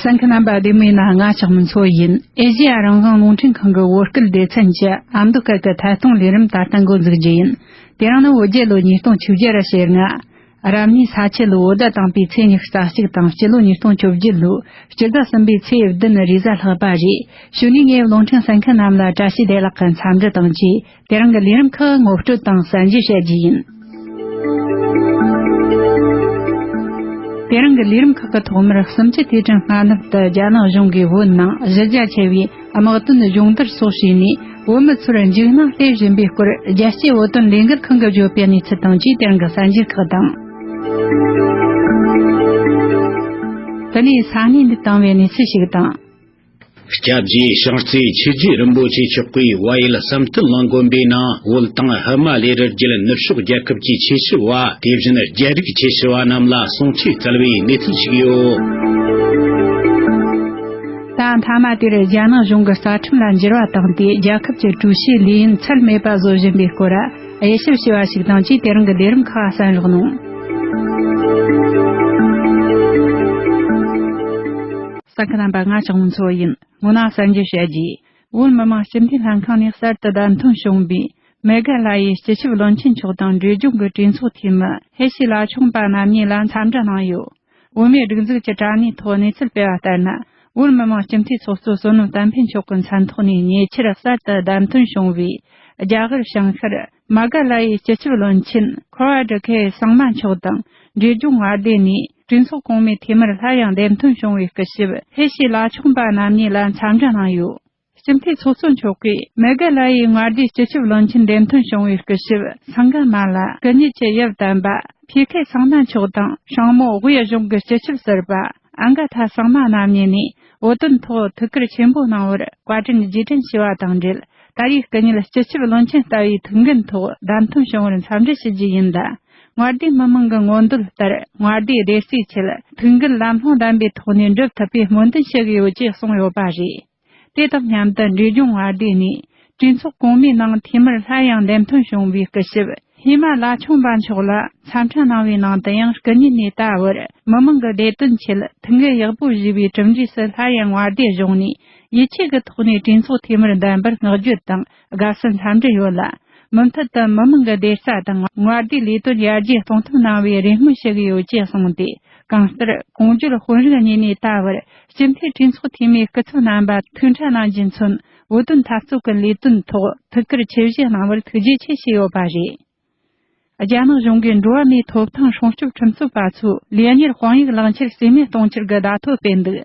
ས་འཁི་རྣམ་པ་བདེ་མོའི་ན་ང་ཆགས་མིན་ཚོ་ཡིན་ཨེ་ཞི་ཡ་རང་བཟང་རླུང་འཕྲིན་ཁང་གི་བོད་སྐད་སྡེ་ཚན་གྱི་ཨ་མདོ་སྐད་ཀྱི་ཐད་གཏོང་ལས་རིམ་ད་ལྟ་འགོ་འཛུགས་རྒྱུ་ཡིན་དེ་རིང་ནི་བོད་རྒྱལ་ལོ་ཉིས་སྟོང་བཅུ་བརྒྱད་ར་ཞེ་ལྔ། རབ་གནས་ས་ཆེ་ལོའི་བོད་ཟླ་དང་པོའི་ཚེས་ཉི་ཤུ་རྩ་གཅིག་དང་སྤྱི་ལོ་ཉིས་སྟོང་བཅུ་བརྒྱད་ལོའི་སྤྱི་ཟླ་གསུམ་པའི་ཚེས་བདུན་རེས་གཟའ་ལྷག་པ་རེད་ཞུ་ནས་ངའི་བློ་མཐུན་ས་འཁི་རྣམས་ལ་བཀྲ་ཤིས་བདེ་ལགས་ཀྱི་འཚམས་འདྲི་དང་བཅས། དེ་རང་གི་ལས་རིམ་ཁག་ངོ་སྤྲོད་དང་གསལ་འབྱེད་བྱ་རྒྱུ་ཡིན། དེ་རང་གི་ལས་རིམ་ཁག་གི་ཐོག་མར་གསུམ་བཅུ་དུས་དྲན་སྔ་ནུབ་ཏུ་རྒྱ་ནག་གཞུང་གིས་བོད་ནང་གཞི་རྒྱ་ཆེ་བའི་དམག་དོན་སྦྱོང་བརྡར་སོགས་བྱས་ནས་བོད་མི་ཚོར་འཇིགས་སྣང་སླེབས་བཞིན་པའི་སྐོར་རྒྱལ་སྤྱིའི་བོད་དོན་ལས་འགུལ་ཁང་གིས་བརྗོད་པའི་གནས་ཚུལ་དང་བཅས་དེ་རང་གི་གསལ་འབྱེད་ཁག་དང། དེ་ནས་ས་གནས་འདི་དང་བའི་གནས་ཚུལ་ཞིག་དང། སྐྱབས་རྗེ་ཤངས་རྩེའི་ཆོས་རྗེ་རིན་པོ་ཆེ་མཆོག་གིས་དབའ་ཡུལ་བསམ་གཏན་ལ་འགོན་པའི་ནང་བོད་དང་ཧི་མ་ལའི་རི་རྒྱུད་ནུབ་ཕྱོགས་རྒྱལ་ཁབ་ཀྱི་ཆོས་ཞུ་བ་དེ་བཞིན་རྒྱལ་རིགས་ཆོས་ཞུ་བ་རྣམས་ལ་གསུང་ཆོས་སྩལ་བའི་གནས་ཚུལ་ཞིག་ཡོད། ད་མཐའ་མ་དེར་རྒྱ་ནག་གཞུང་གི་རྩ་ཁྲིམས་ལ་འགྱུར་བ་བཏང་སྟེ་རྒྱལ་ཁབ་ཀྱི་ཀྲུའུ་ཞིའི་ལས་ཡུན་ཚད་མེད་པ་བཟོ་བཞིན་པའི་སྐོར། དབྱེ་ཞིབ་བྱས་པ་ཞིག་དང་ཅིས་དེ་རིང་གི་ལས་རིམ་ཁག་གསན་རོགས་གནང། ས་ཁུལ་རྣམ་པ་ལྔ་ཆགས་མིན་ཚོ་ཡིན་ངོ་ན་གསར་འབྱོར་བྱས་རྗེས། བོད་མི་མང་སྤྱི་འཐུས་ལྷན་ཁང་ནས་གསར་དུ་བདམས་ཐོན་བྱུང་བའི། མེ་སྒར་ལྷ་ཡི་སྤྱི་ཁྱབ་བློན་ཆེན་མཆོག་དང་འབྲེལ་ལྗོངས་ཀྱི་གྲོས་ཚོགས་འཐུས་མི་ཧེ་ཤི་ལ་ཆུང་པ་རྣམ་གཉིས་ལ་འཚམས་འདྲི་གནང་ཡོད། བོད་མིའི་སྒྲིག་འཛུགས་ཀྱི་དྲ་གནས་ཐོག་གནས་ཚུལ་སྤེལ་བ་ལྟར་ན། བོད་མི་མང་སྤྱི་འཐུས་ཚོགས་གཙོ་བསོད་ནམས་བསྟན་འཕེལ་མཆོག་གི་མཚན་ཐོག་ནས་ཉེ་ཆར་གསར་དུ་བདམས་ཐོན་བྱུང་བའི་རྒྱ་གར་བྱང་ཤར་མ་ག་ལ་ཡའི་སྤྱི་ཁྱབ་བློན་ཆེན་འཁོར་བ་སྒྲུབ་མཁས་གསང་མ་མཆོག་དང་འབྲེལ་སྦྱོང་བར་བསྡད་ནས་གྲོས་ཚོགས་གོང་མའི་འཐུས་མིར་སླར་ཡང་བདམས་ཐོན་བྱུང་བའི་སྐུ་ཞབས་བྷེ་ཤི་ལ་མཆོག་འབའ་རྣམ་གཉིས་ལ་འཚམས་འདྲི་གནང་ཡོད། སྤྱི་འཐུས་ཚོགས་གཙོ་མཆོག་གིས་མེ་གྷལ་ལ་ཡའི་མངའ་སྡེའི་སྤྱི་ཁྱབ་བློན་ཆེན་འདེམས་ཐོན་བྱུང་བའི་སྐུ་ཞབས་སངྒ་མ་ལ་སྐུ་ཉིད་ཀྱི་དབྱིབས་ལྡན་པ་བྷི་ཁེ་སངྒ་མ་མཆོག་དང་ཤང་མོ་དབྱི་གཞུང་གི་སྤྱི་ཁྱབ་ཟུར་པ་ཨན་གྷ་དྷ་སངྒ་མ་རྣམ་གཉིས་ནས་བོད་དོན་ཐོག་ཐུགས་ཁུར་ཆེན་པོ་གནང་བར་བཀའ་དྲིན་རྗེས་དྲན་ཞུ་བ་དང་འབྲེལ་ད་ཡའི་སྐུ་ཉིད་སྤྱི་ཁྱབ་བློན་ཆེན་ལྟ་བུའི་ཐུགས་འགན་ཐོག་བདམས་ཐོན་བྱུང་བར་འཚམས་འདྲི་ཞུ་རྒྱུ་ཡིན་ལ་མངའ་སྡེའི་མི་མང་གི་མངོན་འདོད་ལྟར་མངའ་སྡེའི་བདེ་སྐྱིད་ཆེད་ཐུགས་འགན་ལམ་ལྷོང་ལྡན་པའི་ཐོག་ནས་འགྲུབ་ཐུབ་པའི་སྨོན་འདུན་ཞུ་གི་ཡོད་ཅེས་གསུངས་ཡོད་པ་རེད། དེ་དང་མཉམ་དུ་འབྲས་ལྗོངས་བར་སྡེ་ནས་གྲོས་ཚོགས་གོང་མའི་ནང་འཐུས་མིར་སླར་ཡང་འདེམས་ཐོན་བྱུང་བའི་སྐུ་ཞབས་ཧི་མ་ལ་ཆུང་པ་མཆོག་ལ་འཚམས་འཕྲིན་གནང་བའི་ནང་དུ་ཡང་སྐུ་ཉིད་ནས་ད་བར་མི་དམངས་ཀྱི་བདེ་དོན་ཆེད་ཐུགས་འགན་ཡག་པོ་བཞེས་པའི་གྲུབ་འབྲས་སུ་སླར་ཡང་བར་སྡེ་གཞུང་ནས་ཡིད་ཆེས་ཀྱི་ཐོག་ནས་གྲོས་ཚོགས་འཐུས་མིར་འདེམས་པར་བསྔགས་བརྗོད་དང་དགའ་བསུ་འཚམས་འདྲི་ཡོད་ལ། མུ་མཐུད་དུ་མི་མང་གི་བདེ་རྩ་དང་དངོས་བདེའི་ལས་དོན་ཡར་རྒྱས་གཏོང་ཐབས་གནང་བའི་རེ་སྨོན་ཞུ་གི་ཡོད་ཅེས་གསུངས་ཏེ་གང་ལྟར་གོང་བརྗོད་དཔོན་རིགས་གཉིས་ནས་ད་བར་སྤྱི་འཐུས་གྲོས་ཚོགས་འཐུས་མིའི་སྐུ་ཚབ་རྣམ་པ་ཐུག་འཕྲད་གནང་རྒྱུ་མཚོན་བོད་དོན་འཐབ་རྩོད་ཀྱི་ལས་དོན་ཐོག་ཐུགས་ཁུར་ཆེ་བཞེས་གནང་བར་ཐུགས་རྗེ་ཆེ་ཞུས་ཡོད་པ་རེད། རྒྱ་ནག་གཞུང་གིས་འགྲོ་བ་མིའི་ཐོབ་ཐང་སྲུང་སྐྱོབ་ཁྲིམས་རྩོད་པ་ཚོས་ལས་གཉེར་དཔང་ཡིག་བླངས་ཕྱིར་རྩིས་མེད་གཏོང་ཕྱིར་གྱི་བརྡ་ཐོ་སྤེལ་འདུག་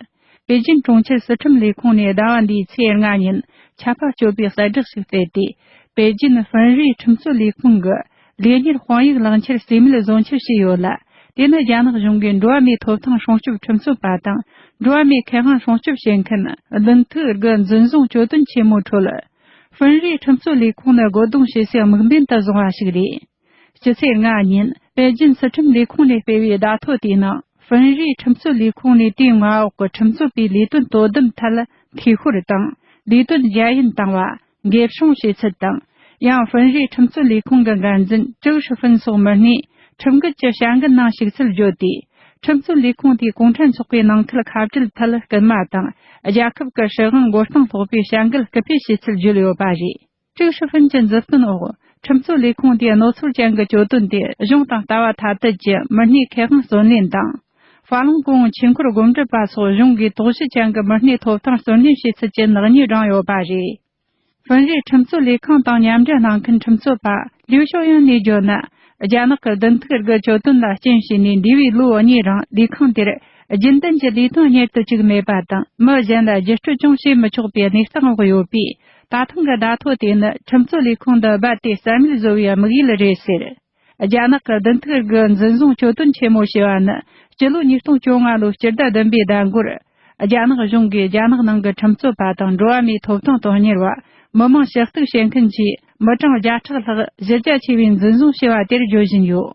པེ་ཅིན་གྲོང་ཁྱེར་སྲིད་ཁྲིམས་ལས་ཁུངས་ནས་ཟླ་བ་འདིའི་ཚེས་ལྔ་ཉིན་ཆད་པ་གཅོད་པའི་གསལ་བསྒྲགས་ཤིག་སྤེལ་ཏེ་པེ་ཅིན་ཧྥིན་རིའི་ཁྲིམས་རྩོད་ལས་ཁུངས་ཀྱིས་ལས་གཉེར་དཔང་ཡིག་བླངས་ཕྱིར་རྩིས་མེད་བཟོ་འཆར་བྱས་ཡོད་ལ་དེ་ནི་རྒྱ་ནག་གཞུང་གིས་འགྲོ་བ་མིའི་ཐོབ་ཐང་སྲུང་སྐྱོབ་ཁྲིམས་རྩོད་པ་དང་འགྲོ་བ་མིའི་ཁེ་དབང་སྲུང་སྐྱོབ་བྱེད་མཁན་བདུན་ཐུག་གི་འཛིན་བཟུང་གྱོད་དོན་ཆེན་མོའི་ཁྲོད་ཧྥིན་རིའི་ཁྲིམས་བཟོ་ལས་ཁུངས་ནི་རྒོལ་རྡུང་བྱེད་སའི་དམིགས་འབེན་དུ་བཟུང་བ་ཞིག་རེད། སྤྱི་ཚེས་ལྔ་ཉིན་པེ་ཅིན་སྲིད་ཁྲིམས་ལས་ཁུངས་ནས་སྤེལ་བའི་བརྡ་ཐོ་དེའི་ནང་ཧྥིན་རིའི་ཁྲིམས་བཟོ་ལས་ཁུངས་ནས་དེའི་མངའ་འོག་གི་ཁྲིམས་བཟོ་པའི་ལས་དོན་དོ་དམ་ཐད་འཐུས་ཤོར་དང་ལས་དོན་རྒྱ་ཡན་བཏང་བ། འགེབ་སྲུང་བྱེད་ཚུལ་དང་ཡང་ཧྥིན་རིའི་ཁྲིམས་བཟོ་ལས་ཁུངས་ཀྱི་འགན་འཛིན་ཀྲུའུ་ཧྲི་ཧྥིན་སོགས་མི་སྣས་ཁྲིམས་འགལ་གྱི་བྱ་འགུལ་གནང་ཞུགས་ཚུལ་བརྗོད་དེ་ཁྲིམས་བཙུན་ལས་ཁུངས་དེས་གུང་ཁྲན་ཚོགས་པའི་ནང་ཁུལ་ཁ་བྲལ་ཐད་སྐུལ་མ་དང་རྒྱལ་ཁབ་ཀྱི་སྲིད་དབང་མགོ་རྟིང་སློག་པའི་བྱ་འགུལ་སྐུལ་སྤེལ་བྱས་ཚུལ་བརྗོད་ཡོད་པ་རེད། ཀྲུའུ་ཧྲི་ཧྥུན་གྱི་མཛུབ་སྟོན་འོག་ཁྲིམས་བཙུན་ལས་ཁུངས་དེས་རྣོ་ཚོར་ཅན་གྱི་གྱོད་དོན་དེ་གཞུང་དང་ལྟ་བ་ཐ་དད་ཀྱི་མི་སྣའི་ཁེ་དབང་བརྩོན་ལེན་དང། ཧྥ་ལང་ཀོའུ་ཆོས་འཁོར་སྒོམ་སྒྲུབ་པ་སོགས་གཞུང་གིས་དོགས་གཞི་ཅན་གྱི་མི་སྣའི་ཐོབ་ཐང་བརྩོན་ལེན་བྱས་ཚུལ་གྱི་ནག་ཉེས་བསྒྲངས་ཡོད་པ་རེད། དབུས་རིའི་ཁྲིམས་རྩོད་ལས་ཁང་དང་མཉམ་འབྲེལ་གནང་མཁན་ཁྲིམས་རྩོད་པ་ལིའུ་ཞའོ་ཡན་ནས་བརྗོད་ན། རྒྱ་ནག་གི་བདུན་ཐུག་རྒྱལ་གཅོད་དོན་ལ་རྐྱེན་བྱས་ནས་འདས་པའི་ལོ་གཉིས་རིང་ལས་ཁང་དེར་རྒྱུན་ལྡན་གྱི་ལས་དོན་གཉེར་དུ་བཅུག་མེད་པ་དང་མི་གཞན་ལ་བརྒྱུད་སྤྲོད་ཀྱང་བྱེད་མི་ཆོག་པའི་གནས་སྟངས་འོག་ཡོད་པས་ད་ཐེངས་ཀྱི་བརྡ་ཐོ་དེ་ནི་ཁྲིམས་རྩོད་ལས་ཁང་འདི་རྦད་དེ་རྩ་མེད་བཟོ་བའི་དམིགས་ཡུལ་རེད་ཟེར། རྒྱ་ནག་གི་བདུན་ཐུག་རིགས་འཛིན་བཟུང་གཅོད་དོན་ཆེན་མོ་ཞེས་པ་ནི་སྤྱི་ལོ་ཉིས་སྟོང་བཅོ་ལྔ་ལོའི་སྤྱི་ཟླ་བདུན་པའི་ཟླ་མགོར། རྒྱ་ནག་གཞུང་གིས་རྒྱ་ནག་ནང་གི་ཁྲིམས་རྩོད་པ་དང་འགྲོ་བ་མིའི་ཐོབ་ཐང་དོན་གཉེར་བ། མི་མང་ཕྱི་གཏུགས་བྱེད་མཁན་གྱི་མི་གྲངས་བརྒྱ་ཕྲག་ལྷག་གཞི་རྒྱ་ཆེ་བའི་འཛིན་བཟུང་བྱས་པ་དེར་བརྗོད་བཞིན་ཡོད།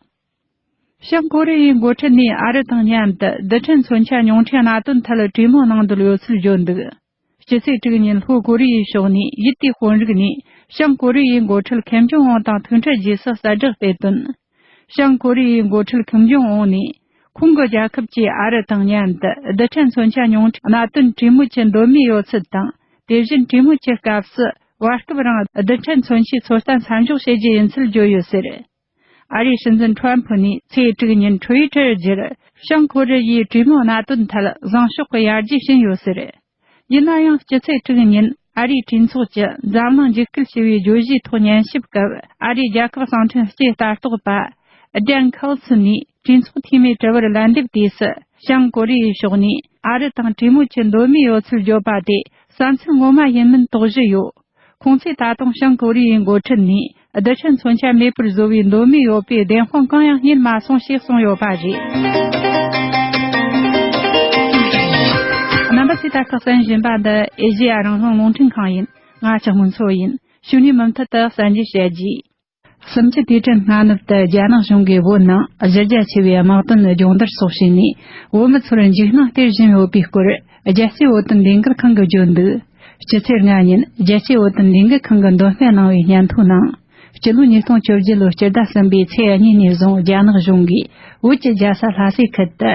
བྱང་ཀོ་རི་ཡའི་འགོ་ཁྲིད་ནས་ཨ་རི་དང་མཉམ་དུ་རྡུལ་ཕྲན་མཚོན་ཆ་ཉུང་འཕྲི་གནད་དོན་ཐད་གྲོས་མོལ་གནང་འདོད་ཡོད་ཚུལ་བརྗོད་འདུག། སྤྱི་ཚེས་དྲུག་ཉིན་ལྷོ་ཀོ་རི་ཡའི་ཕྱོགས་ནས་ཡུལ་དེའི་དཔོན་རིགས་ནས་བྱང་ཀོ་རི་ཡའི་འགོ་ཁྲིད་ཁེམ་ཇོང་ཨོན་དང་ཐུག་འཕྲད་རྗེས་སུ་གསལ་བསྒྲགས་སྤེལ་དོན། བྱང་ཀོ་རི་ཡའི་འགོ་ཁྲིད་ཁེམ་ཇོང་ཨོན་ནས་ཁོང་གི་རྒྱལ་ཁབ་ཀྱིས་ཨ་རི་དང་མཉམ་དུ་རྡུལ་ཕྲན་མཚོན་ཆ་ཉུང་གྲས་གནད་དོན་གྲོས་མོལ་གྱི་འདོད་མོས་ཡོད་ཚུལ་དང་དེ་བཞིན་གྲོས་མོལ་གྱི་སྐབས་སུ་བར་སྐབས་རིང་རྡུལ་ཕྲན་མཚོན་ཆའི་ཚོད་ལྟ་མཚམས་འཇོག་བྱེད་རྒྱུ་ཡིན་ཚུལ་བརྗོད་ཡོད་ཟེར། ཨ་རིའི་སྲིད་འཛིན་ཁྲོན་ཕུ་ནས་ཚེས་དྲུག་ཉིན་ཁྲུའུ་ཡི་ཁྲིར་བརྗོད་བྱང་ཁོ་རེ་ཡའི་གྲོས་མོལ་གནད་དོན་ཐད་བཟང་ཕྱོགས་ཀྱི་ཡར་རྒྱས་ཕྱིན་ཡོད་ཟེར། ཡིན་ན་ཡང་སྤྱི་ཚེས་དྲུག་ཉིན་ཨ་རིའི་གྲོས་ཚོགས་ཀྱི་འཛམ་གླིང་འཇིགས་སྐུལ་ཞི་བའི་བརྗོད་གཞིའི་ཐོག་ཉན་ཞིབ་སྐབས་ཨ་རིའི་རྒྱལ་ཁབ་གསང་འཕྲིན་སྐྱེས་ལྟ་རྟོག་པ། Dane Cawson། ནས། གྲོས་ཚོགས་འཐུས་མིའི་དྲི་བར་ལན་འདེབས་དུས་སུ་བྱང་ཀོ་རི་ཡའི་ཕྱོགས་ནས་ཨ་རི་དང་གྲོས་མོལ་གྱི་འདོད་མོས་ཡོད་ཚུལ་བརྗོད་པ་དེ་བསམ་ཚུལ་ངོ་མ་ཡིན་མིན་དོགས་གཞི་ཡོད། ཁོང་ཚོས་ད་དུང་བྱང་ཀོ་རི་ཡའི་འགོ་ཁྲིད་ནས་རྡུལ་ཕྲན་མཚོན་ཆ་མེད་པར་བཟོ་བའི་འདོད་མོས་ཡོད་པའི་བདེན་དཔང་གང་ཡང་རྙེད་མ་སོང་ཞེས་གསུངས་ཡོད་པ་རེད། རྣམ་པ་ཚོས་ད་ལྟ་གསན་བཞིན་པ་འདི་ཨེ་ཤེ་ཡ་རང་བྱུང་རླུང་འཕྲིན་ཁང་ཡིན། ང་ཆུང་ངུ་ཚོ་ཡིན། ཕྱི་ནས་མུ་མཐུད་དུ་གསན་རྒྱུ་བྱེད་རྒྱུ། གསུམ་གྱི་དུས་དྲན་སྔ་ནུབ་ཏུ་རྒྱ་ནག་གཞུང་གིས་བོད་ནང་གཞི་རྒྱ་ཆེ་བའི་དམག་དོན་སྦྱོང་བརྡར་སོགས་བྱས་ནས་བོད་མི་ཚོར་འཇིགས་སྣང་སྟེར་བཞིན་ཡོད་པའི་སྐོར་རྒྱལ་སྤྱིའི་བོད་དོན་ལས་འགུལ་ཁང་གིས་བརྗོད་འདུག་སྤྱི་ཚེས་ལྔ་ཉིན་རྒྱལ་སྤྱིའི་བོད་དོན་ལས་འགུལ་ཁང་གིས་འདོན་སྤེལ་གནང་བའི་སྙན་ཐོའི་ནང། སྤྱི་ལོ་ཉིས་སྟོང་བཅོ་བརྒྱད་ལོའི་སྤྱི་ཟླ་གསུམ་པའི་ཚེས་གཉིས་ནས་བཟུང་རྒྱ་ནག་གཞུང་གིས་བོད་ཀྱི་རྒྱལ་ས་ལྷ་སའི་ཁུལ་དུ།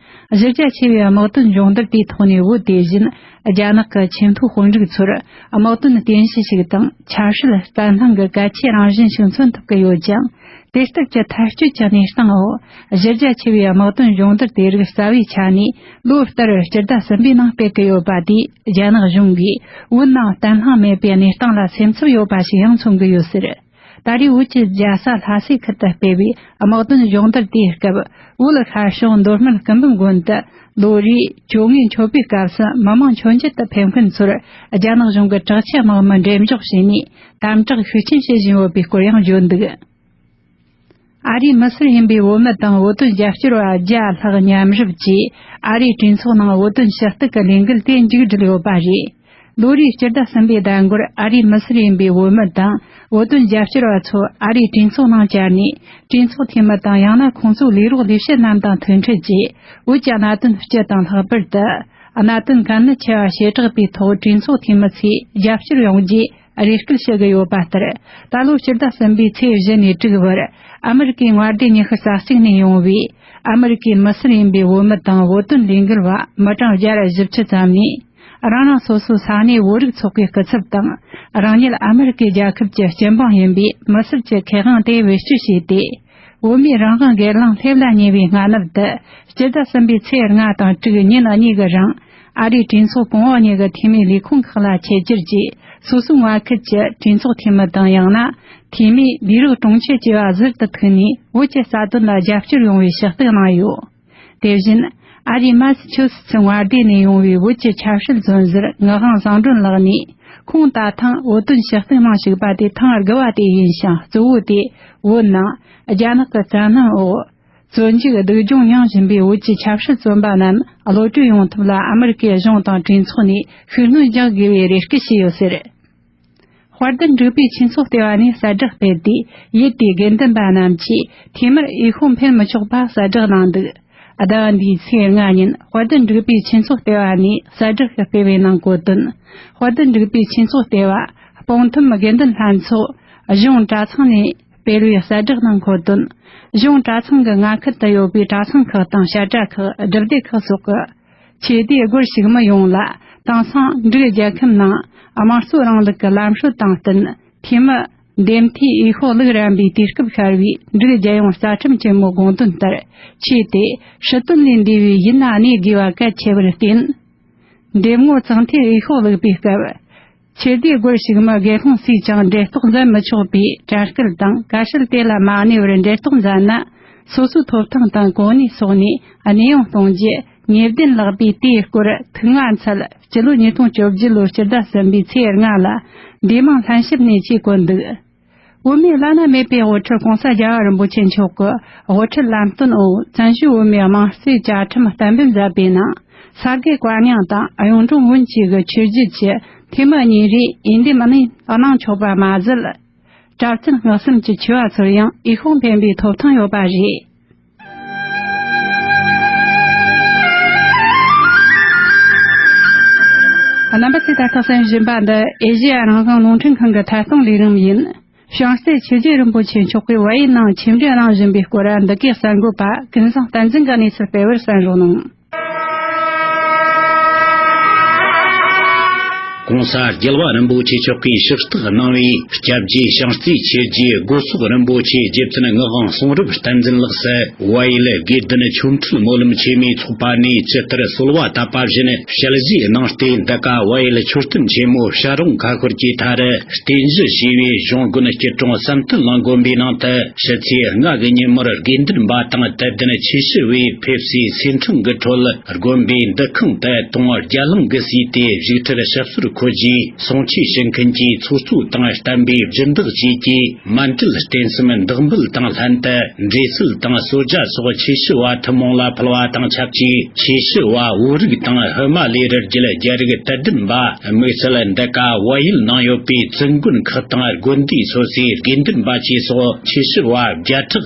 གཞི་རྒྱ་ཆེ་བའི་དམག་དོན་སྦྱོང་བརྡར་དེའི་ཐོག་ནས་བོད་དེ་བཞིན་རྒྱ་ནག་གི་ཆེས་མཐོའི་དཔོན་རིགས་ཚོར་དམག་དོན་རྟེན་གཞི་ཞིག་དང་ཆབ་སྲིད་བརྟན་ལྷིང་གི་གལ་ཆེའི་རང་བཞིན་ཞིག་མཚོན་ཐུབ་ཀྱི་ཡོད་ཅིང། དུས་སྟོབས་ཀྱི་ཐལ་སྐྱོད་ཀྱི་གནས་སྟངས་འོག་གཞི་རྒྱ་ཆེ་བའི་དམག་དོན་སྦྱོང་བརྡར་དེ་རིགས་རྩ་བའི་ཆ་ནས་ལོ་ལྟར་སྤྱི་ཟླ་གསུམ་པའི་ནང་སྤེལ་གྱི་ཡོད་པ་དེས་རྒྱ་ནག་གཞུང་གིས་བོད་ནང་བརྟན་ལྷིང་མེད་པའི་གནས་སྟངས་ལ་སེམས་འཚབ་ཡོད་པ་ཞིག་ཡང་མཚོན་གྱི་ཡོད་ཟེར། ད་རེས་བོད་ཀྱི་རྒྱལ་ས་ལྷ་སའི་ཁུལ་དུ་སྤེལ་བའི་དམག་དོན་གཞུང་བསྡུར་དེའི་སྐབས་བོད་ལ་ཤར་བྱང་མདོ་སྨད་སྐུ་འབུམ་དགོན་དུ་ལོ་རེའི་བཅོ་ལྔའི་མཆོད་པའི་སྐབས་སུ་མི་མང་མཆོད་མཇལ་དུ་ཕེབས་མཁན་ཚོར་རྒྱ་ནག་གཞུང་གི་དྲག་ཆས་དམག་མི་འགྲེམས་འཇོག་བྱས་ནས་དམ་དྲག་ཤུགས་ཆེན་བྱེད་བཞིན་ཡོད་པའི་སྐོར་ཡང་བརྗོད་འདུག། ཨ་རིའི་མི་སེར་ཡིན་པའི་བོད་མི་དང་བོད་དོན་རྒྱབ་སྐྱོར་བ་བརྒྱ་ལྷག་མཉམ་ཞུགས་ཀྱིས་ཨ་རིའི་གྲོས་ཚོགས་ནང་བོད་དོན་ཞུ་གཏུག་གི་ལས་འགུལ་དེ་མཇུག་བསྒྲིལ་ཡོད་པ་རེད། ལོ་རེའི་སྤྱི་ཟླ་གསུམ་པའི་ཟླ་འགོར་ཨ་རིའི་མི་སེར་ཡིན་པའི་བོད་མི་དང་བོད་དོན་རྒྱབ་སྐྱོར་བ་ཚོ་ཨ་རིའི་གྲོས་ཚོགས་ནང་བཅར་ནས་གྲོས་ཚོགས་འཐུས་མི་དང་ཡང་ན་ཁོང་ཚོའི་ལས་རོགས་ལས་བྱེད་རྣམས་དང་ཐུག་འཕྲད་ཀྱིས་བོད་ཀྱི་གནད་དོན་སྤྱི་དང་ལྷག་པར་དུ་གནད་དོན་གལ་གནད་ཆེ་བ་བྱེ་བྲག་པའི་ཐོག་གྲོས་ཚོགས་འཐུས་མི་ཚོས་རྒྱབ་སྐྱོར་ཡོང་རྒྱུའི་རེ་སྐུལ་ཞུ་གི་ཡོད་པ་ལྟར། ད་ལོ་སྤྱི་ཟླ་གསུམ་པའི་ཚེས་བཞི་ནས་དྲུག་བར་ཨ་མི་རི་ཀའི་དངའ་སྡེ་ཉི་ཤུ་རྩ་གཅིག་ནས་ཡོང་བའི་ཨ་མི་རི་ཀའི་མི་སེར་ཡིན་པའི་བོད་མི་དང་བོད་དོན་ལས་འགུལ་བ་མི་གྲངས་བརྒྱ་རེ་བཞི་བཅུ་ཙམ་ནས་རང་རང་སོ་སོའི་ས་གནས་བོད་རིགས་ཚོགས་པའི་སྐུ་ཚབ་དང་རང་ཉིད་ཨ་མི་རི་ཀའི་རྒྱལ་ཁབ་ཀྱི་སྤྱི་འབངས་ཡིན་པའི་མི་སེར་གྱི་ཁེ་དབང་དེ་བེད་སྤྱོད་བྱས་ཏེ། བོད་མིའི་རང་དབང་སྒེར་ལངས་སླེབས་ལ་ཉེ་བའི་སྔ་ནུབ་དུ་སྤྱི་ཟླ་གསུམ་པའི་ཚེས་ལྔ་དང་དྲུག་ཉིན་གཉིས་ཀྱི་རིང། ཨ་རིའི་གྲོས་ཚོགས་གོང་འོག་གཉིས་ཀྱི་འཐུས་མིའི་ལས་ཁུངས་ཁག་ལ་ཆེད་བསྒྱུར་གྱིས་སོ་སོའི་ངོ་ཁུལ་གྱི་གྲོས་ཚོགས་འཐུས་མི་དང་ཡང་ན་འཐུས་མི་ལས་རིགས་གྲོང་ཁྱེར་བཅས་པ་གཟུར་དུ་ཐུག་ནས་བོད་ཀྱི་རྩ་དོན་ལ་རྒྱབ་སྐྱོར་ཡོང་བའི་ཕྱག་བསྟོད་གནང་ཡོད། དེ་བཞིན། ཨ་རིའི་མཱ་སི་ཆོས་སི་སི་དབར་བརྡས་ནས་ཡོང་བའི་བོད་ཀྱི་ཆབ་སྲིད་རྫུན་གཟེར་ངག་དབང་བཟང་སྒྲོན་ལགས་ནི་ཁོང་ད་ཐེངས་བོད་དོན་ཕྱི་གཏོང་ནང་ཞུགས་པ་དེ་ཐེངས་དགུ་བ་དེ་ཡིན་ཞིང་གཙོ་བོ་དེ་བོད་ནང་རྒྱ་ནག་གི་བཙན་གནོན་འོག་བཙོན་འཇུག་སྡུག་སྦྱོང་མྱངས་བཞིན་པའི་བོད་ཀྱི་ཆབ་སྲིད་བཙོན་པ་རྣམས་བློ་གྲོས་ཡོང་ཐབས་ལ་ཨ་མི་རི་ཀའི་གཞུང་དང་གྲོས་ཚོགས་ནས་ཤུགས་སྣོན་རྒྱག་དགོས་པའི་རེ་སྐུལ་བྱས་ཡོད་ཟེར། དཔར་ལྡན་འབྲུག་པའི་ཆོས་ཚོགས་ལྟེ་བ་ནས་གསལ་བསྒྲགས་སྤེལ་ཏེ་ཡུལ་དེའི་དགེ་འདུན་པ་རྣམས་ཀྱིས་འཐུས་མིར་འོས་ཤོག་འཕེན་མི་ཆོག་པ་གསལ་བསྒྲགས་གནང་འདུག་ཟླ་བ་འདིའི་ཚེས་ལྔ་ཉིན་དཔར་ལྡན་འབྲུག་པའི་ཆོས་ཚོགས་ལྟེ་བ་ནས་གསལ་བསྒྲགས་ཤིག་སྤེལ་བའི་ནང་བཀོད་དོན། དཔར་ལྡན་འབྲུག་པའི་ཆོས་ཚོགས་ལྟེ་བ། སྤང་ཐུམ་དགེ་འདུན་ལྷན་ཚོགས། གཞུང་གྲྭ་ཚང་ནས། སྤེལ་བའི་གསལ་བསྒྲགས་ནང་འཁོད་དོན། གཞུང་གྲྭ་ཚང་གི་མངའ་ཁུལ་དུ་ཡོད་པའི་གྲྭ་ཚང་ཁག་དང་བཤད་གྲྭ་ཁག་སྒྲུབ་སྡེ་ཁག་སོགས་ཀྱི་ཆོས་དད་སྒོར་ཞུགས་མི་ཡོངས་ལ་དང་ཟངས་འབྲུག་རྒྱལ་ཁབ་ནང་དམངས་གཙོའི་རིང་ལུགས་ཀྱི་ལམ་སྲོལ་དང་བསྟུན་འཐུས་མི། འདེམས་མཐུས་དབྱི་ཧོ་ལུགས་རན་པའི་དུས་སྐབས་ཤར་བའི་འབྲུག་རྒྱལ་ཡོངས་རྩ་ཁྲིམས་ཆེན་མོའི་དགོངས་དོན་ལྟར་ཆོས་དད་ཧྲིལ་དོན་ལས་འདས་པའི་ཡུལ་ན་གནས་དགོས་པ་གལ་ཆེ་བར་བརྟེན། འདེམས་ངོར་ཙང་ཐའི་དབྱི་ཧོ་ལུགས་པའི་སྐབས། ཆོས་སྡེའི་སྒོར་ཞུགས་མི་སྒེར་ལྷུང་སུས་ཀྱང་འབྲེལ་གཏོགས་འཛིན་མི་ཆོག་པའི་དྲན་སྐུལ་དང་བཀའ་ཤུལ་དེ་ལ་མ་གནས་པར་འབྲེལ་གཏོགས་མཛད་ན་སོ་སོའི་ཐོབ་ཐང་དང་གོ་གནས་སོགས་ནས་གནས་དབྱུང་གཏོང་རྒྱུ་ཉེས་ལྡན་ལགས་པས་དེའི་སྐོར་ཐུགས་མངའ་འཚལ་སྤྱི་ལོ་ཉིས་སྟོང་བཅོ་བརྒྱད་ལོའི་སྤྱི་ཟླ་གསུམ་པའི་ཚེས་ལྔ་ལ་འབྲས་མང་ལྷན་ཞིབ་གནས་ཆེད་བཀོད་འདུག། དབུ་མའི་བླ་ན་མེད་པའི་དབུ་ཁྲིད་གོང་ས་རྒྱ་བ་རིན་པོ་ཆེ་མཆོག་གི་དབུ་ཁྲིད་ལམ་སྟོན་འོག་བཙན་བྱོལ་བོད་མིའི་དམངས་གཙོའི་བཅའ་ཁྲིམས་གཏན་འབེབས་མཛད་པའི་ནང་ས་དགེ་བཀའ་རྙིང་དང་གཡུང་དྲུང་བོན་བཅས་ཀྱི་ཆོས་བརྒྱུད་ཀྱི་འཐུས་མི་གཉིས་རེས་འོས་འདེམས་གནང་གནང་ཆོག་པ་མ་ཟད། གྲྭ་བཙུན་བསྔགས་བསམ་གྱི་ཆོས་བ་ཚོར་ཡང་འོས་ཤོག་འཕེན་པའི་ཐོབ་ཐང་ཡོད་པ་རེད། རྣམ་པ་ཚོས་ད་ལྟ་གསན་བཞིན་པ་འདི་ཨེ་ཤེ་ཡ་རང་བྱུང་རླུང་འཕྲིན་ཁང་གི་ཐད་གཏོང་ལས་རིམ་ཡིན། བྱང་རྩེ་ཆོས་རྗེ་རིན་པོ་ཆེ་མཆོག་གིས་བོད་ཡིག་ནང་ཆེད་འབྲི་གནང་བཞིན་པའི་སྐོར་འདི་གའི་གསར་འགོད་པ་ཀུན་བཟང་བསྟན་འཛིན་གྱི་གནས་ཚུལ་སྤེལ་བར་གསན་རོགས་གནང། གོང་ས་རྒྱལ་བ་རིན་པོ་ཆེ་མཆོག་གིས་ཕྱག་བཏགས་གནང་བའི་སྐྱབས་རྗེ་ཞང་རྩེ་ཆོས་རྗེ་སྒོ་ཚོགས་རིན་པོ་ཆེ་རྗེ་བཙུན་ངག་དབང་གསུང་རབ་བསྟན་འཛིན་ལགས་སུ་དབའ་ཡུལ་དགེ་འདུན་ཆོས་འཕྲུལ་སྨོན་ལམ་ཆེན་མོའི་ཚོགས་པ་ནས་ཇི་ལྟར་གསོལ་བ་བཏབ་པ་བཞིན་ཞལ་བཞེས་གནང་སྟེ་འདི་ག་དབའ་ཡུལ་མཆོད་རྟེན་ཆེན་མོ་ཤ་རོང་ཁ་ཤོར་གྱི་མཐར་རྟེན་གཞི་བྱས་པའི་གཞུང་དགོན་སྐྱིད་གྲོང་བསམ་སྟོན་ལ་དགོན་པའི་ནང་དུ་ཕྱི་ཚེས་ལྔ་གི་ཉིན་མོར་དགེ་འདུན་པ་དང་དད་ལྡན་ཆོས་ཞུ་བས། ཕེབས་བསུའི་ཚེ་འཕྲིན་གྱི་ཁྲོད་ལ་དགོན་པའི་འདུ་ཁང་དེ་དུང་དབར་བརྒྱ་ལྷག་གི་བསུས་ཏེ་བཞུགས་ཁྲིར་ཞབས་སོར་འཁོད་རྗེས་གསུང་ཆོས་ཞུ་མཁན་གྱི་ཚོགས་གཙོ་དང་བསྟན་པའི་སྦྱིན་བདག་བཅས་ཀྱིས་མ་འདྲིལ་རྟེན་གསུམ་བདག་འབུལ་དང་ལྷན་དུ་འབྲས་བསིལ་དང་བསོད་བརྒྱ་སོགས་ཆོས་ཞུ་བ་ཐུན་མོང་ལ་ཕུལ་བ་དང་ཆབས་ཅིག་ཆོས་ཞུ་བ་བོད་རིགས་དང་བྷི་མ་ལའི་རི་རྒྱུད་རྒྱ་རིགས་དད་ལྡན་པ་དམིགས་བསལ་འདི་ག་བལ་ཡུལ་ནང་ཡོད་པའི་བཙུན་དགོན་ཁག་དང་དགོན་སྡེའི་སོ་སོའི་དགེ་འདུན་པ་བཅས་སོགས་ཆོས་ཞུ་བ་བརྒྱ་ཕྲག་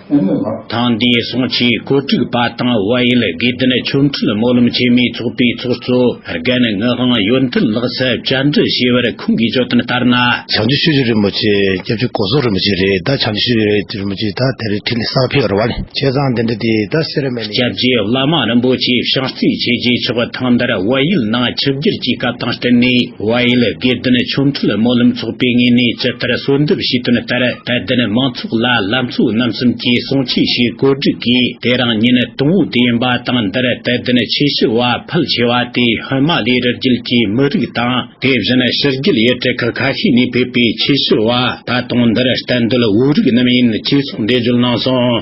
ཐང་དེའི་གསང་ཆེན་བཀོད་སྒྲིག་པ་དང་དབལ་ཡུལ་དགེ་ལྡན་ཆོས་འཕྲུལ་སྨོན་ལམ་ཆེན་མོའི་ཚོགས་པའི་ཚོགས་གཙོ་རྒན་ངག་དབང་ཡོན་ཏན་ལགས་སུ་བཅར་འདྲི་བྱས་པར་ཁོང་གིས་བརྗོད་དོན་ལྟར་ན། བྱང་ཆུབ་ཤེས་བྱ་རིན་པོ་ཆེ་སྐྱབས་རྗེ་ཀོ་ཟོ་རིན་པོ་ཆེ་རེད་ད་བྱང་ཆུབ་ཤེས་བྱ་རིན་པོ་ཆེ་ད་དེར་ཁྲི་ལས་གསར་ཕེབས་ར་བ་ནས་བྱས་ཙང་དེ་འདྲ་དེ་ད་སེ་ར་མེད་ནས་ཡིན། སྐྱབས་རྗེ་བླ་མ་རིན་པོ་ཆེས་བཤགས་རྩིས་བྱས་རྗེས་ཆོག་གི་ཐང་དར་དབལ་ཡུལ་ནང་ཆིབས་བསྒྱུར་གྱི་སྐབས་དང་བསྟུན་ནས་དབལ་ཡུལ་དགེ་ལྡན་ཆོས་འཕྲུལ་སྨོན་ལམ་ཚོགས་པའི་ངོས་ནས་ཇི་ལྟར་གསོལ་འདེབས་བྱས་དོན་ལྟར་དད་ལྡན་མང་ཚོགས་ལ་ལ་མཚོའི་རྣམ་གསུམ་གྱི་གསུང་ཆོས་ཞེས་བཀོད་བསྒྲིགས་ཀྱི་དེ་རང་ཉིད་ནི་དུམ་བུ་དེ་ཡིན་པ་དང་འདིར་དད་ལྡན་ཆོས་ཞུ་བ་ཕལ་ཆེ་བ་དེ་ཧོན་མ་ལའི་རི་རྒྱུད་ཀྱི་མི་རིགས་དང་དེ་བཞིན་ཕྱི་རྒྱུད་ཡུལ་གྲུ་ཁག་ཁ་ཤས་ནས་ཕེབས་པའི་ཆོས་ཞུ་བ་ད་དུང་འདིར་གཏན་སྡོད་བོད་རིགས་རྣམས་ཡིན་ཅེས་གསུངས་འགྲེལ་བརྗོད་གནང་སོང།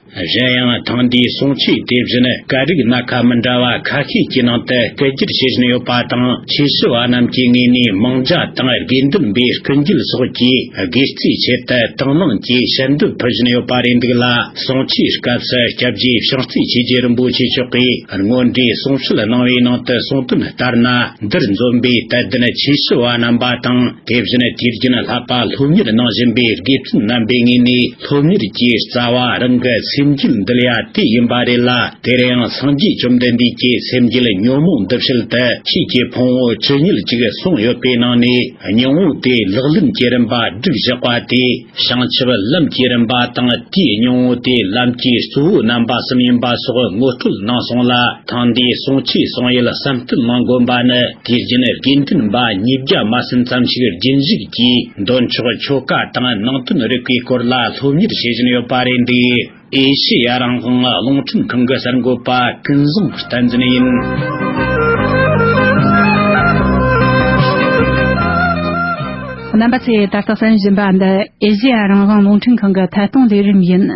གཞན་ཡང་ཐེངས་འདིའི་གསུང་ཆོས་དེ་བཞིན་སྐད་རིགས་སྣ་ཁ་མི་འདྲ་བ་ཁ་ཤས་ཀྱི་ནང་དུ་སྐད་བསྒྱུར་བྱེད་བཞིན་ཡོད་པ་དང་ཆོས་ཞུ་བ་རྣམས་ཀྱི་ངོས་ནས་མིང་བརྒྱ་དང་དགེ་འདུན་པའི་སྐུ་མཇུག་སོགས་ཀྱི་དགེ་བརྩིའི་ཆེད་དུ་དང་བླངས་ཀྱིས་བཤད་འདོད་ཕུལ་བཞིན་ཡོད་པ་རེད་འདུག་ལ་གསུང་ཆོས་སྐབས་སུ་སྐྱབས་རྗེ་ཕྱག་རྩིས་ཆོས་རྗེ་རིན་པོ་ཆེ་མཆོག་གིས་དངོས་འབྲེལ་གསུང་བཤད་གནང་བའི་ནང་དུ་གསུང་དོན་ལྟར་ན་འདིར་འཛོམས་པའི་དད་ལྡན་ཆོས་ཞུ་བ་རྣམ་པ་དང། དེ་བཞིན་དུས་རྒྱུན་ལྷག་པ་སློབ་གཉེར་གནང་བཞིན་པའི་དགེ་བཙུན་རྣམ་པའི་ངོས་ནས་སློབ་གཉེར་གྱི་རྩ་བ་རང་གི་སེམས་རྒྱུད་འདུལ་ཡ་དེ་ཡིན་པ་རེད་ལ་དེར་ཡང་སངས་རྒྱས་བཅོམ་ལྡན་འདས་ཀྱི་སེམས་རྒྱུད་ཉོན་མོངས་འདུལ་བྱེད་དུ་ཁྱེད་ཀྱི་ཕུང་བོ་ཇི་སྙེད་ཅིག་གསུངས་ཡོད་པའི་ནང་ནས་ཉུང་ངུ་དེ་ལག་ལེན་གྱི་རིམ་པ་བསྒྲིགས་བཞག་པ་དེ། བྱང་ཆུབ་ལམ་གྱི་རིམ་པ་དང་དེའི་སྙིང་བོ་དེ་ལམ་གྱི་གཙོ་བོའི་རྣམ་པ་གསུམ་ཡིན་པ་སོགས་ངོ་སྤྲོད་གནང་སོང་ལ་ཐང་འདིའི་གསུང་ཆོས་གསུང་ཡུལ་བསམ་གཏན་གནང་དགོན་པ་ནི་དེའི་རྒྱུན་དགེ་འདུན་པ་ཉིས་བརྒྱ་མ་ཟིན་ཙམ་ཞིག་རྒྱུན་བཞུགས་ཀྱིས་འདོན་ཆོག་ཆོ་ག་དང་ནང་དོན་རིག་པའི་སྐོར་ལ་སློབ་གཉེར་བྱེད་བཞིན་ཡོད་པ་རེད་འདུག། ཨེ་ཤེ་ཡ་རང་དབང་རླུང་འཕྲིན་ཁང་གི་གསར་འགོད་པ་ཀུན་བཟང་བསྟན་འཛིན་ཡིན། རྣམ་པ་ཚོས་ད་ལྟ་གསན་བཞིན་པ་འདི་ཨེ་ཤེ་ཡ་རང་དབང་རླུང་འཕྲིན་ཁང་གི་ཐད་གཏོང་ལས་རིམ་ཡིན།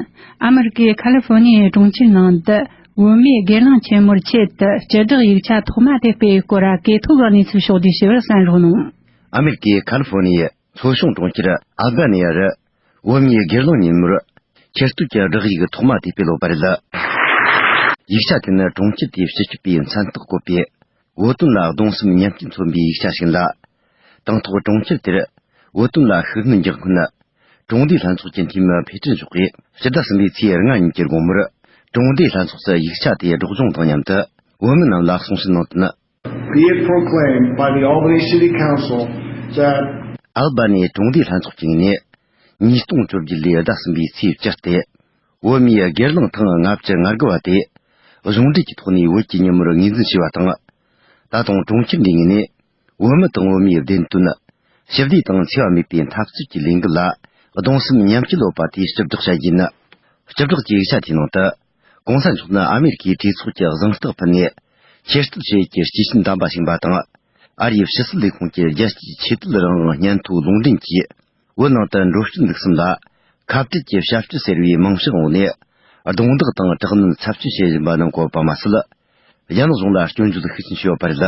ཨ་མི་རི་ཀའི་ཁ་ལི་ཧྥོ་ནི་ཡའི་གྲོང་ཁྱེར་ནང་དུ་བོད་མིའི་སྒེར་ལངས་ཆེན་མོར་ཆེད་དུ་སྤྱི་བསྒྲགས་ཡིག་ཆ་ཐོག་མ་དེ་སྤེལ་སྐོར་གས་ཐོ་ག་གནས་ཚུལ་ཕྱོགས་བསྡུས་ཞུ་བར་གསན་རོགས་གནང། ཨ་མི་རི་ཀའི་ཁ་ལི་ཧྥོ་ནི་ཡའི་མཚོ་གཞུང་གྲོང་ཁྱེར་ཨ་བྷ་ནི་ཡ་རུ། བོད་མིའི་སྒེར་ལངས་ཉིན་མོར། ཁྱེར་བསྡུ་གྱི་བསྒྲགས་ཡིག་ཐོག་མ་དེ་སྤེལ་བ་རེད། ཡིག་ཆ་དེ་ནི་གྲོང་ཁྱེར་དེའི་སྤྱི་ཁྱབ་པས་མཚན་རྟགས་བཀོད་པའི། བོད་དོན་ལ་གདུང་སེམས་མཉམ་སྐྱེ་མཚོན་པའི་ཡིག་ཆ་ཞིག་ལ། དང་ཐོག་གྲོང་ཁྱེར་དེར། བོད་དོན་ལ་ཤུགས་སྣོན་རྒྱག་སྔོན། གྲོང་སྡེའི་ལྷན་ཚོགས་ཀྱི་འཐུས་མི་ཕེ་ཁྲི་མཆོག་གིས་སྤྱི་ཟླ་གསུམ་པའི་ཚེས་ལྔ་ཉིན་གྱི་དགོང་མོར། གྲོང་སྡེའི་ལྷན་ཚོགས་སུ་ཡིག་ཆ་དེའི་སྒྲོག་སྦྱོང་དང་མཉམ་དུ་བོད་མི་རྣམས་ལ་གསུང་བཤད་གནང་དོན། Be it proclaimed by the Albany City Council that. Albany གྲོང་སྡེའི་ལྷན་ཚོགས་ཀྱི་ངེས་གནས། ཉིས་སྟོང་བཅོ་བརྒྱད་ལོའི་ཟླ་གསུམ་པའི་ཚེས་བཅུ་སྟེ། བོད་མིའི་སྒེར་ལངས་ཐེངས་ལྔ་བཅུ་ང་དགུ་བ་དེ། གཞུང་འབྲེལ་གྱི་ཐོག་ནས་བོད་ཀྱི་ཉིན་མོར་ངོས་འཛིན་བྱས་པ་དང། ད་དུང་གྲོང་ཁྱེར་འདིའི་ངེས་གནས། བོད་མི་དང་བོད་མིའི་བདེན་དོན། ཞི་བདེ་དང་འཚེ་བ་མེད་པའི་འཐབ་རྩོད་ཀྱི་ལས་འགུལ་ལ་གདུང་སེམས་མཉམ་སྐྱེད་སློབ་པ་དེ་བཅུ་བསྒྲགས་བྱ་རྒྱུ་ཡིན། བཅུ་བསྒྲགས་ཀྱི་ཡིག་ཆ་དེའི་ནང་དུ། གོང་ས་མཆོག་ནི་ཨ་མེ་རི་ཁའི་གྲོས་ཚོགས་ཀྱི་གཟེངས་རྟགས་ཕུལ་ནས། ཆེས་གཏུག་བྱེད་ཀྱི་སྤྱི་ཆིངས་བདམས་པ་བྱིན་པ་དང། ཨ་རིའི་ཕྱི་སྲིད་ལས་ཁུངས་ཀྱི་རྒྱལ་སྤྱིའི་ཆོས་དད་རང་དབང་སྙན་ཐོའི་ལུང་འདྲེན་གྱིས། བོད་ནང་དུ་འགྲོ་སྐྱོད་འདུག་གསུམ་ལ། ཁ་བྲལ་གྱི་ཞབས་ཞུ་ཟེར་བའི་རྨང་གཞིའི་འོག་ནས། རྡུང་རྡེག་དང་དྲག་གནོན་ཚབས་ཆེན་བྱེད་བཞིན་པ་ནི་འགོད་པ་མ་ཟད། རྒྱ་ནག་གཞུང་ལ་སྐྱོན་བརྗོད་ཤུགས་ཆེན་ཞུ་བ་བར་ལ།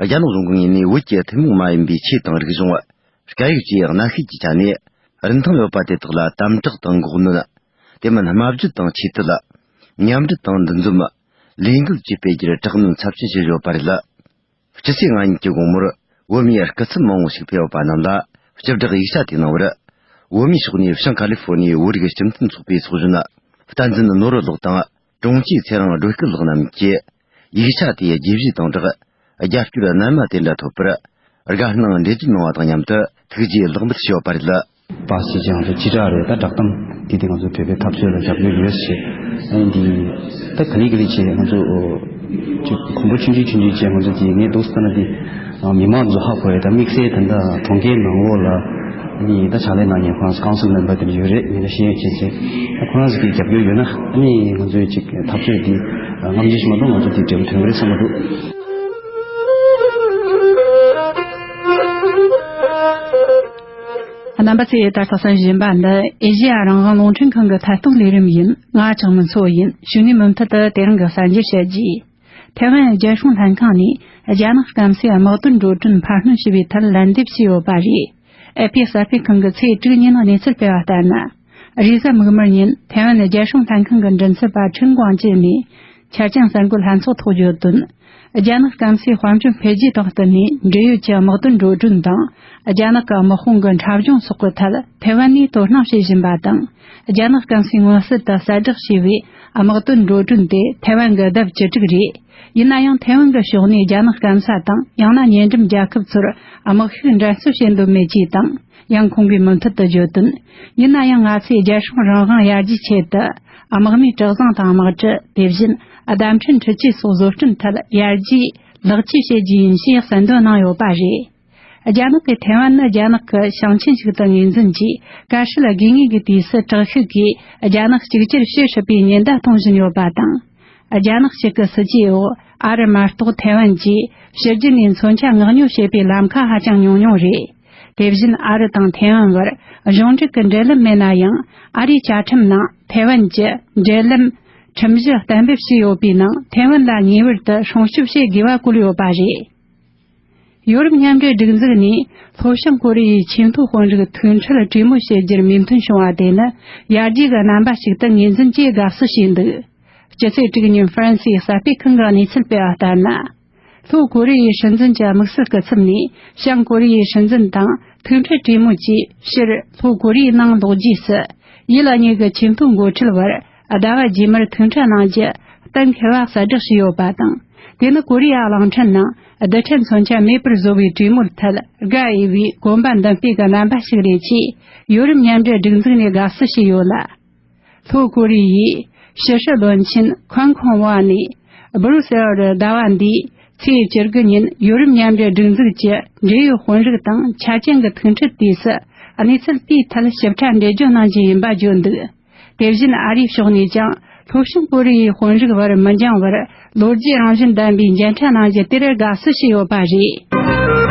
རྒྱ་ནག་གཞུང་གི་ངོས་ནས་བོད་ཀྱི་ཐུན་མོང་མ་ཡིན་པའི་ཆོས་དང་རིག་གཞུང། སྐད་ཡིག་ཅེས་གནའ་ཤུལ་གྱི་ཆ་ནས་རིན་ཐང་ཡོད་པ་དེ་དག་ལ་དམ་དྲག་དང་འགོག་གནོན། དེ་མིན་དམའ་བརྗོད་དང་ཆེ་བསྟོད། མཉམ་འབྲེལ་དང་འདུ་འཛོམས། ལས་འགུལ་བཅས་སྤེལ་རྒྱུར་དྲག་གནོན་ཚབས་ཆེན་བྱས་ཡོད་པ་རེད། ཕྱི་ཚེས་ལྔ་ཉིན་གྱི་དགོང་མོར་བོད་མིའི་སྐུ་ཚབ་མང་བོ་ཞིག་ཕེབས་ཡོད་པ་རྣམས་ལ་སྤྱི་བསྒྲགས་ཡིག་ཆ་དེ་གནང་བར། བོད་མིའི་ཕྱོགས་ནས་བྱང་ཀ་ལི་ཧྥོར་ནི་བོད་རིགས་སྤྱི་མཐུན་ཚོགས་པའི་ཚོགས་གཞོན། བསྟན་འཛིན་ནོར་བུ་ལགས་དང། དྲུང་ཆེ་ཚེ་རིང་སྒྲོལ་སྐུ་ལགས་རྣམས་ཀྱིས་ཡིག་ཆ་དེ་རྒྱས་བཞེས་དང་སྦྲགས་རྒྱབ་སྐྱོར་རྣལ་མ་དེ་འདྲ་ཐོབ་པར་དགའ་སྣང་འགྲེལ་བརྗོད་གནང་བ་དང་མཉམ་དུ་ཐུགས་རྗེ་ལེགས་འབུལ་ཞུ་བ་རེད། པ་ཞེས་ཀྱང་ཅི་དྲག་རེད་ད་བསྒྲགས་གཏམ་འདི་དེ་ང་ཚོའི་བོད་པའི་འཐབ་རྩོད་ལ་རྒྱབ་སྐྱོར་ཡོད་ཞེས་ཨེ་འདི་ད་ག་ལེ་ག་ལེ་བྱས་ང་ཚོ་གོང་བུ་ཆུང་འདྲིས་ཆུང་འདྲིས་བྱས་ང་ཚོ་འདི་ངས་སྡུག་ས་ན་འདི། མི་དམངས་ཚོ་ཧ་གོ་ཡོད་ད་དམིགས་བསལ་དེ་འདྲ་གྲོང་ཁྱེར་ནང་འོག་ལ་ནི་ད་ཕྱག་ལས་གནང་མཁན་ཁོ་རང་ཚོ Council Member དེ་འདྲ་ཡོད་རེད་མི་འདྲ་ཤེས་ཡོན་ཅན་ཚོས་ད་ཁོ་རང་ཚོ་གི་རྒྱབ་སྐྱོར་ཡོད་ན་ནི་ང་ཚོའི་ཅིག་འཐབ་རྩོད་འདི་རྔམ་ཇི་བཞིན་མ་གཏོང་ང་ཚོ་དེ་འབྲས་བུ་ཐོན་གི་རེད་བསམ་པ་འདུག། རྣམ་པ་ཚོས་ད་ལྟ་བསམ་བཞིན་པ་འདི་ཨེ་ཞི་ཡ་རང་དབང་རླུང་འཕྲིན་ཁང་གི་མཐར་གཏུགས་ལས་རིམ་ཡིན་ང་ཆང་མི་འཚོ་ཡིན་ཞུ་ནས་མུ་མཐུད་དུ་དེ་རིང་གི་གསར་འགྱུར་བཤད་རྒྱུ་ཡིན། ཐེ་ཝན་རྒྱལ་སྲུང་ལྷན་ཁང་ནས་རྒྱ་ནག་སྐམ་སའི་དམག་དོན་འགྲོ་གྲོན་འཕར་སྣོན་ཞུ་བའི་ཐད་ལན་འདེབས་བྱས་ཡོད་པ་རེད། ཨེ་ཕེ་གསར་སྤེལ་ཁང་གི་ཚེས་དྲུག་ཉིན་གནས་ཚུལ་སྤེལ་བ་ལྟར་ན། རེས་གཟའ་མིག་དམར་ཉིན་ཐེ་ཝན་རྒྱལ་སྲུང་ལྷན་ཁང་གི་མགྲིན་ཚབ་པ་ཁྲིན་ཀུང་ཅེ་ནས་ཆ་རྐྱེན་གསར་འགོད་ལྷན་ཚོགས་ཐོག་བརྗོད་དོན། རྒྱ་ནག་སྐམ་སའི་དཔལ་འབྱོར་འཕེལ་རྒྱས་དང་བསྟུན་ནས་འབྲེལ་ཡོད་ཀྱི་དམག་དོན་འགྲོ་གྲོན་དང་རྒྱ་ནག་གི་དམག་དཔུང་གི་འཁྲབ་གཞུང་སོགས་ཀྱི་ཐད་ཐེ་ཝན་ནས་དོ་སྣང་བྱེད་བཞིན་པ་དང། རྒྱ་ནག་སྐམ་སའི་མངོན་གསལ་དུ་གསལ་བསྒྲགས་བྱས་པའི་དམག་དོན་འགྲོ་གྲོན་དེ་ཐའེ་ཝན་གྱི་ལྡབ་བཅུ་དྲུག་རེད། ཡིན་ན་ཡང་ཐའེ་ཝན་གྱི་ཕྱོགས་ནས་རྒྱ་ནག་སྐམ་ས་དང་ཡང་ན་ཉེ་འགྲམ་རྒྱལ་ཁབ་ཚོར་དམག་ཤུགས་འགྲན་རྩོད་བྱེད་འདོད་མེད་ཅེས་དང་ཡང་ཁོང་གིས་མུ་མཐུད་དུ་བརྗོད་དོན། ཡིན་ན་ཡང་ང་ཚོས་རྒྱལ་སྲུང་རང་དབང་ཡར་རྒྱས་ཆེད་དུ་དམག་མིའི་གྲགས་བཟང་དང་དམག་གྲུ་དེ་བཞིན་བདམས་ཐོན་འཕྲུལ་ཆས་སོགས་བཟོ་སྐྲུན་ཐད་ཡར་རྒྱས་ལེགས་བཅོས་བྱེད་རྒྱུ་ཡིན་ཞེས་གསལ་འདོན་གནང་ཡོད་པ་རེད། རྒྱ་ནག་གིས་ཐེ་ཝན་ནི་རྒྱ་ནག་གི་ཞིང་ཆེན་ཞིག་ཏུ་ངོས་འཛིན་གྱིས་ཀཱ་ཧྲི་ལ་དགོས་ངེས་ཀྱི་དུས་སུ་དྲག་ཤུགས་ཀྱིས་རྒྱ་ནག་གཅིག་གྱུར་བྱེད་སྲིད་པའི་ཉེན་བརྡ་གཏོང་བཞིན་ཡོད་པ་དང། རྒྱ་ནག་གཅིག་གི་སྲིད་ཇུས་འོག་ཨ་རི་མ་གཏོགས་ཐེ་ཝན་གྱིས་ཕྱི་རྒྱལ་ནས་མཚོན་ཆ་མངགས་ཉོ་བྱེད་པའི་ལམ་ཁ་ཧ་ཅང་ཉུང་ཉུང་རེད། དེ་བཞིན་ཨ་རི་དང་ཐེ་ཝན་བར་གཞུང་འབྲེལ་གྱི་འབྲེལ་ལམ་མེད་ན་ཡང་ཨ་རིའི་བཅའ་ཁྲིམས་ནང་ཐེ་ཝན་གྱི་འབྲེལ་ལམ། ཁྲིམས་གཞི་གཏན་འབེབས་བྱས་ཡོད་པའི་ནང་ཐེ་ཝན་ལ་ངེས་པར་དུ་སྲུང་སྐྱོབ་བྱེད་དགོས་པ་བཀོད་ཡོད་པ་རེད། ཡོ་རོབ་མཉམ་འབྲེལ་སྒྲིག་འཛུགས་ནས་ལྷོ་བྱང་ཀོ་རི་ཡའི་ཆེས་མཐོའི་དཔོན་རིགས་མཐུན་འཕྲོད་གྲོས་མོལ་བྱེད་རྒྱུར་མོས་མཐུན་བྱུང་བ་དེ་ནི་ཡར་རྒྱས་ཀྱི་རྣམ་པ་ཞིག་ཏུ་ངོས་འཛིན་བཅས་དགའ་བསུ་བྱས་འདུག་སྤྱི་ཚོགས་དྲུག་ཉིན་ཧྥ་རན་སིའི་གསར་སྤེལ་ཁང་གིས་གནས་ཚུལ་སྤེལ་བ་ལྟར་ན། ལྷོ་ཀོ་རི་ཡའི་སྲིད་འཛིན་གྱི་དམིགས་བསལ་སྐུ་ཚབ་ནས་བྱང་ཀོ་རི་ཡའི་སྲིད་འཛིན་དང་མཐུན་འཕྲོད་གྲོས་མོལ་བྱེད་ཕྱིར་ལྷོ་ཀོ་རི་ཡའི་ནང་ལོག་རྗེས་སུ་ཡིད་ལ་ཉེ་གི་ཆེས་མཐོའི་འགོ་ཁྲིད་བར་ཟླ་བ་རྗེས་མར་ཐུག་འཕྲད་གནང་རྒྱུ་གཏན་འཁེལ་བ་གསལ་བསྒྲགས་བྱས་ཡོད་པ་དང། དེ་ནི་ཀོ་རི་ཡ་གླིང་ཕྲན་ནང་རྡུལ་ཕྲན་མཚོན་ཆ་མེད་པར་བཟོ་བའི་གྲོས་མོལ་ཐད་དགའ་འོས་པའི་གོམ་པ་མདུན་སྤོས་ཀྱི་རྣམ་པ་ཞིག་རེད་ཅེས་ཡོ་རིམ་མཉམ་འབྲེལ་སྒྲིག་འཛུགས་ནས་དགའ་བསུ་བྱས་ཡོད་ལ། ལྷོ་ཀོ་རི་ཡའི་ཕྱི་སྲིད་བློན་ཆེན་ཁོན་ཁོང་ཝང་ནས་སྦུ་རུ་སེལ་རུ་ཟླ་བ་འདིའི་ཚེས་བཅུ་དགུ་ཉིན་ཡོ་རིམ་མཉམ་འབྲེལ་སྒྲིག་འཛུགས་ཀྱི་འབྲེལ་ཡོད་དཔོན་རིགས་དང་ཆ་རྐྱེན་གྱི་ཐུག་འཕྲད་དུས་སུ་གནས་ཚུལ་དེའི་ཐད་ཞིབ་ཕྲ་འགྲེལ་བརྗོད་གནང་རྒྱུ་ཡིན་པ་བརྗོད་འདུག། དེ་བཞིན་ཨ་རིའི་ཕྱོགས་ནས་ཀྱང་ལྷོ་བྱང་ཀོ་རི་ཡའི་དཔོན་རིགས་བར་མི་འགྱངས་བར་ལོ་རྒྱུས་རང་བཞིན་ལྡན་པའི་མཇལ་འཕྲད་གནང་རྒྱུ་དེར་དགའ་བསུ་ཞུས་ཡོད་པ་རེད།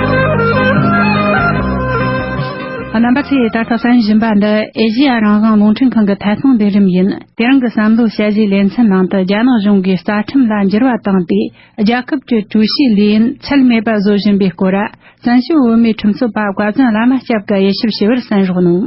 རྣམ་པ་ཚོས་ད་ལྟ་བསམ་བཞིན་པ་འདི་ཨེ་ཤེ་ཡ་རང་དབང་རླུང་འཕྲིན་ཁང་གི་ཐད་གཏོང་འདུན་རིམ་ཡིན། དེ་རིང་གི་བསམ་བློའི་དཔྱད་གཞིའི་ལེ་ཚན་ནང་དུ་རྒྱ་ནག་གཞུང་གིས་རྩ་ཁྲིམས་ལ་འགྱུར་བ་བཏང་སྟེ་རྒྱལ་ཁབ་ཀྱི་ཀྲུའུ་ཞིའི་ལས་ཡུན་ཚད་མེད་པར་བཟོ་བཞིན་པའི་སྐོར། བཙན་བྱོལ་བོད་མིའི་ཁྲིམས་རྩོད་པ་བཀའ་བཙུན་བླ་མ་སྐྱབས་ཀྱིས་དབྱེ་ཞིབ་ཞུ་བར་གསན་རོགས་གནང།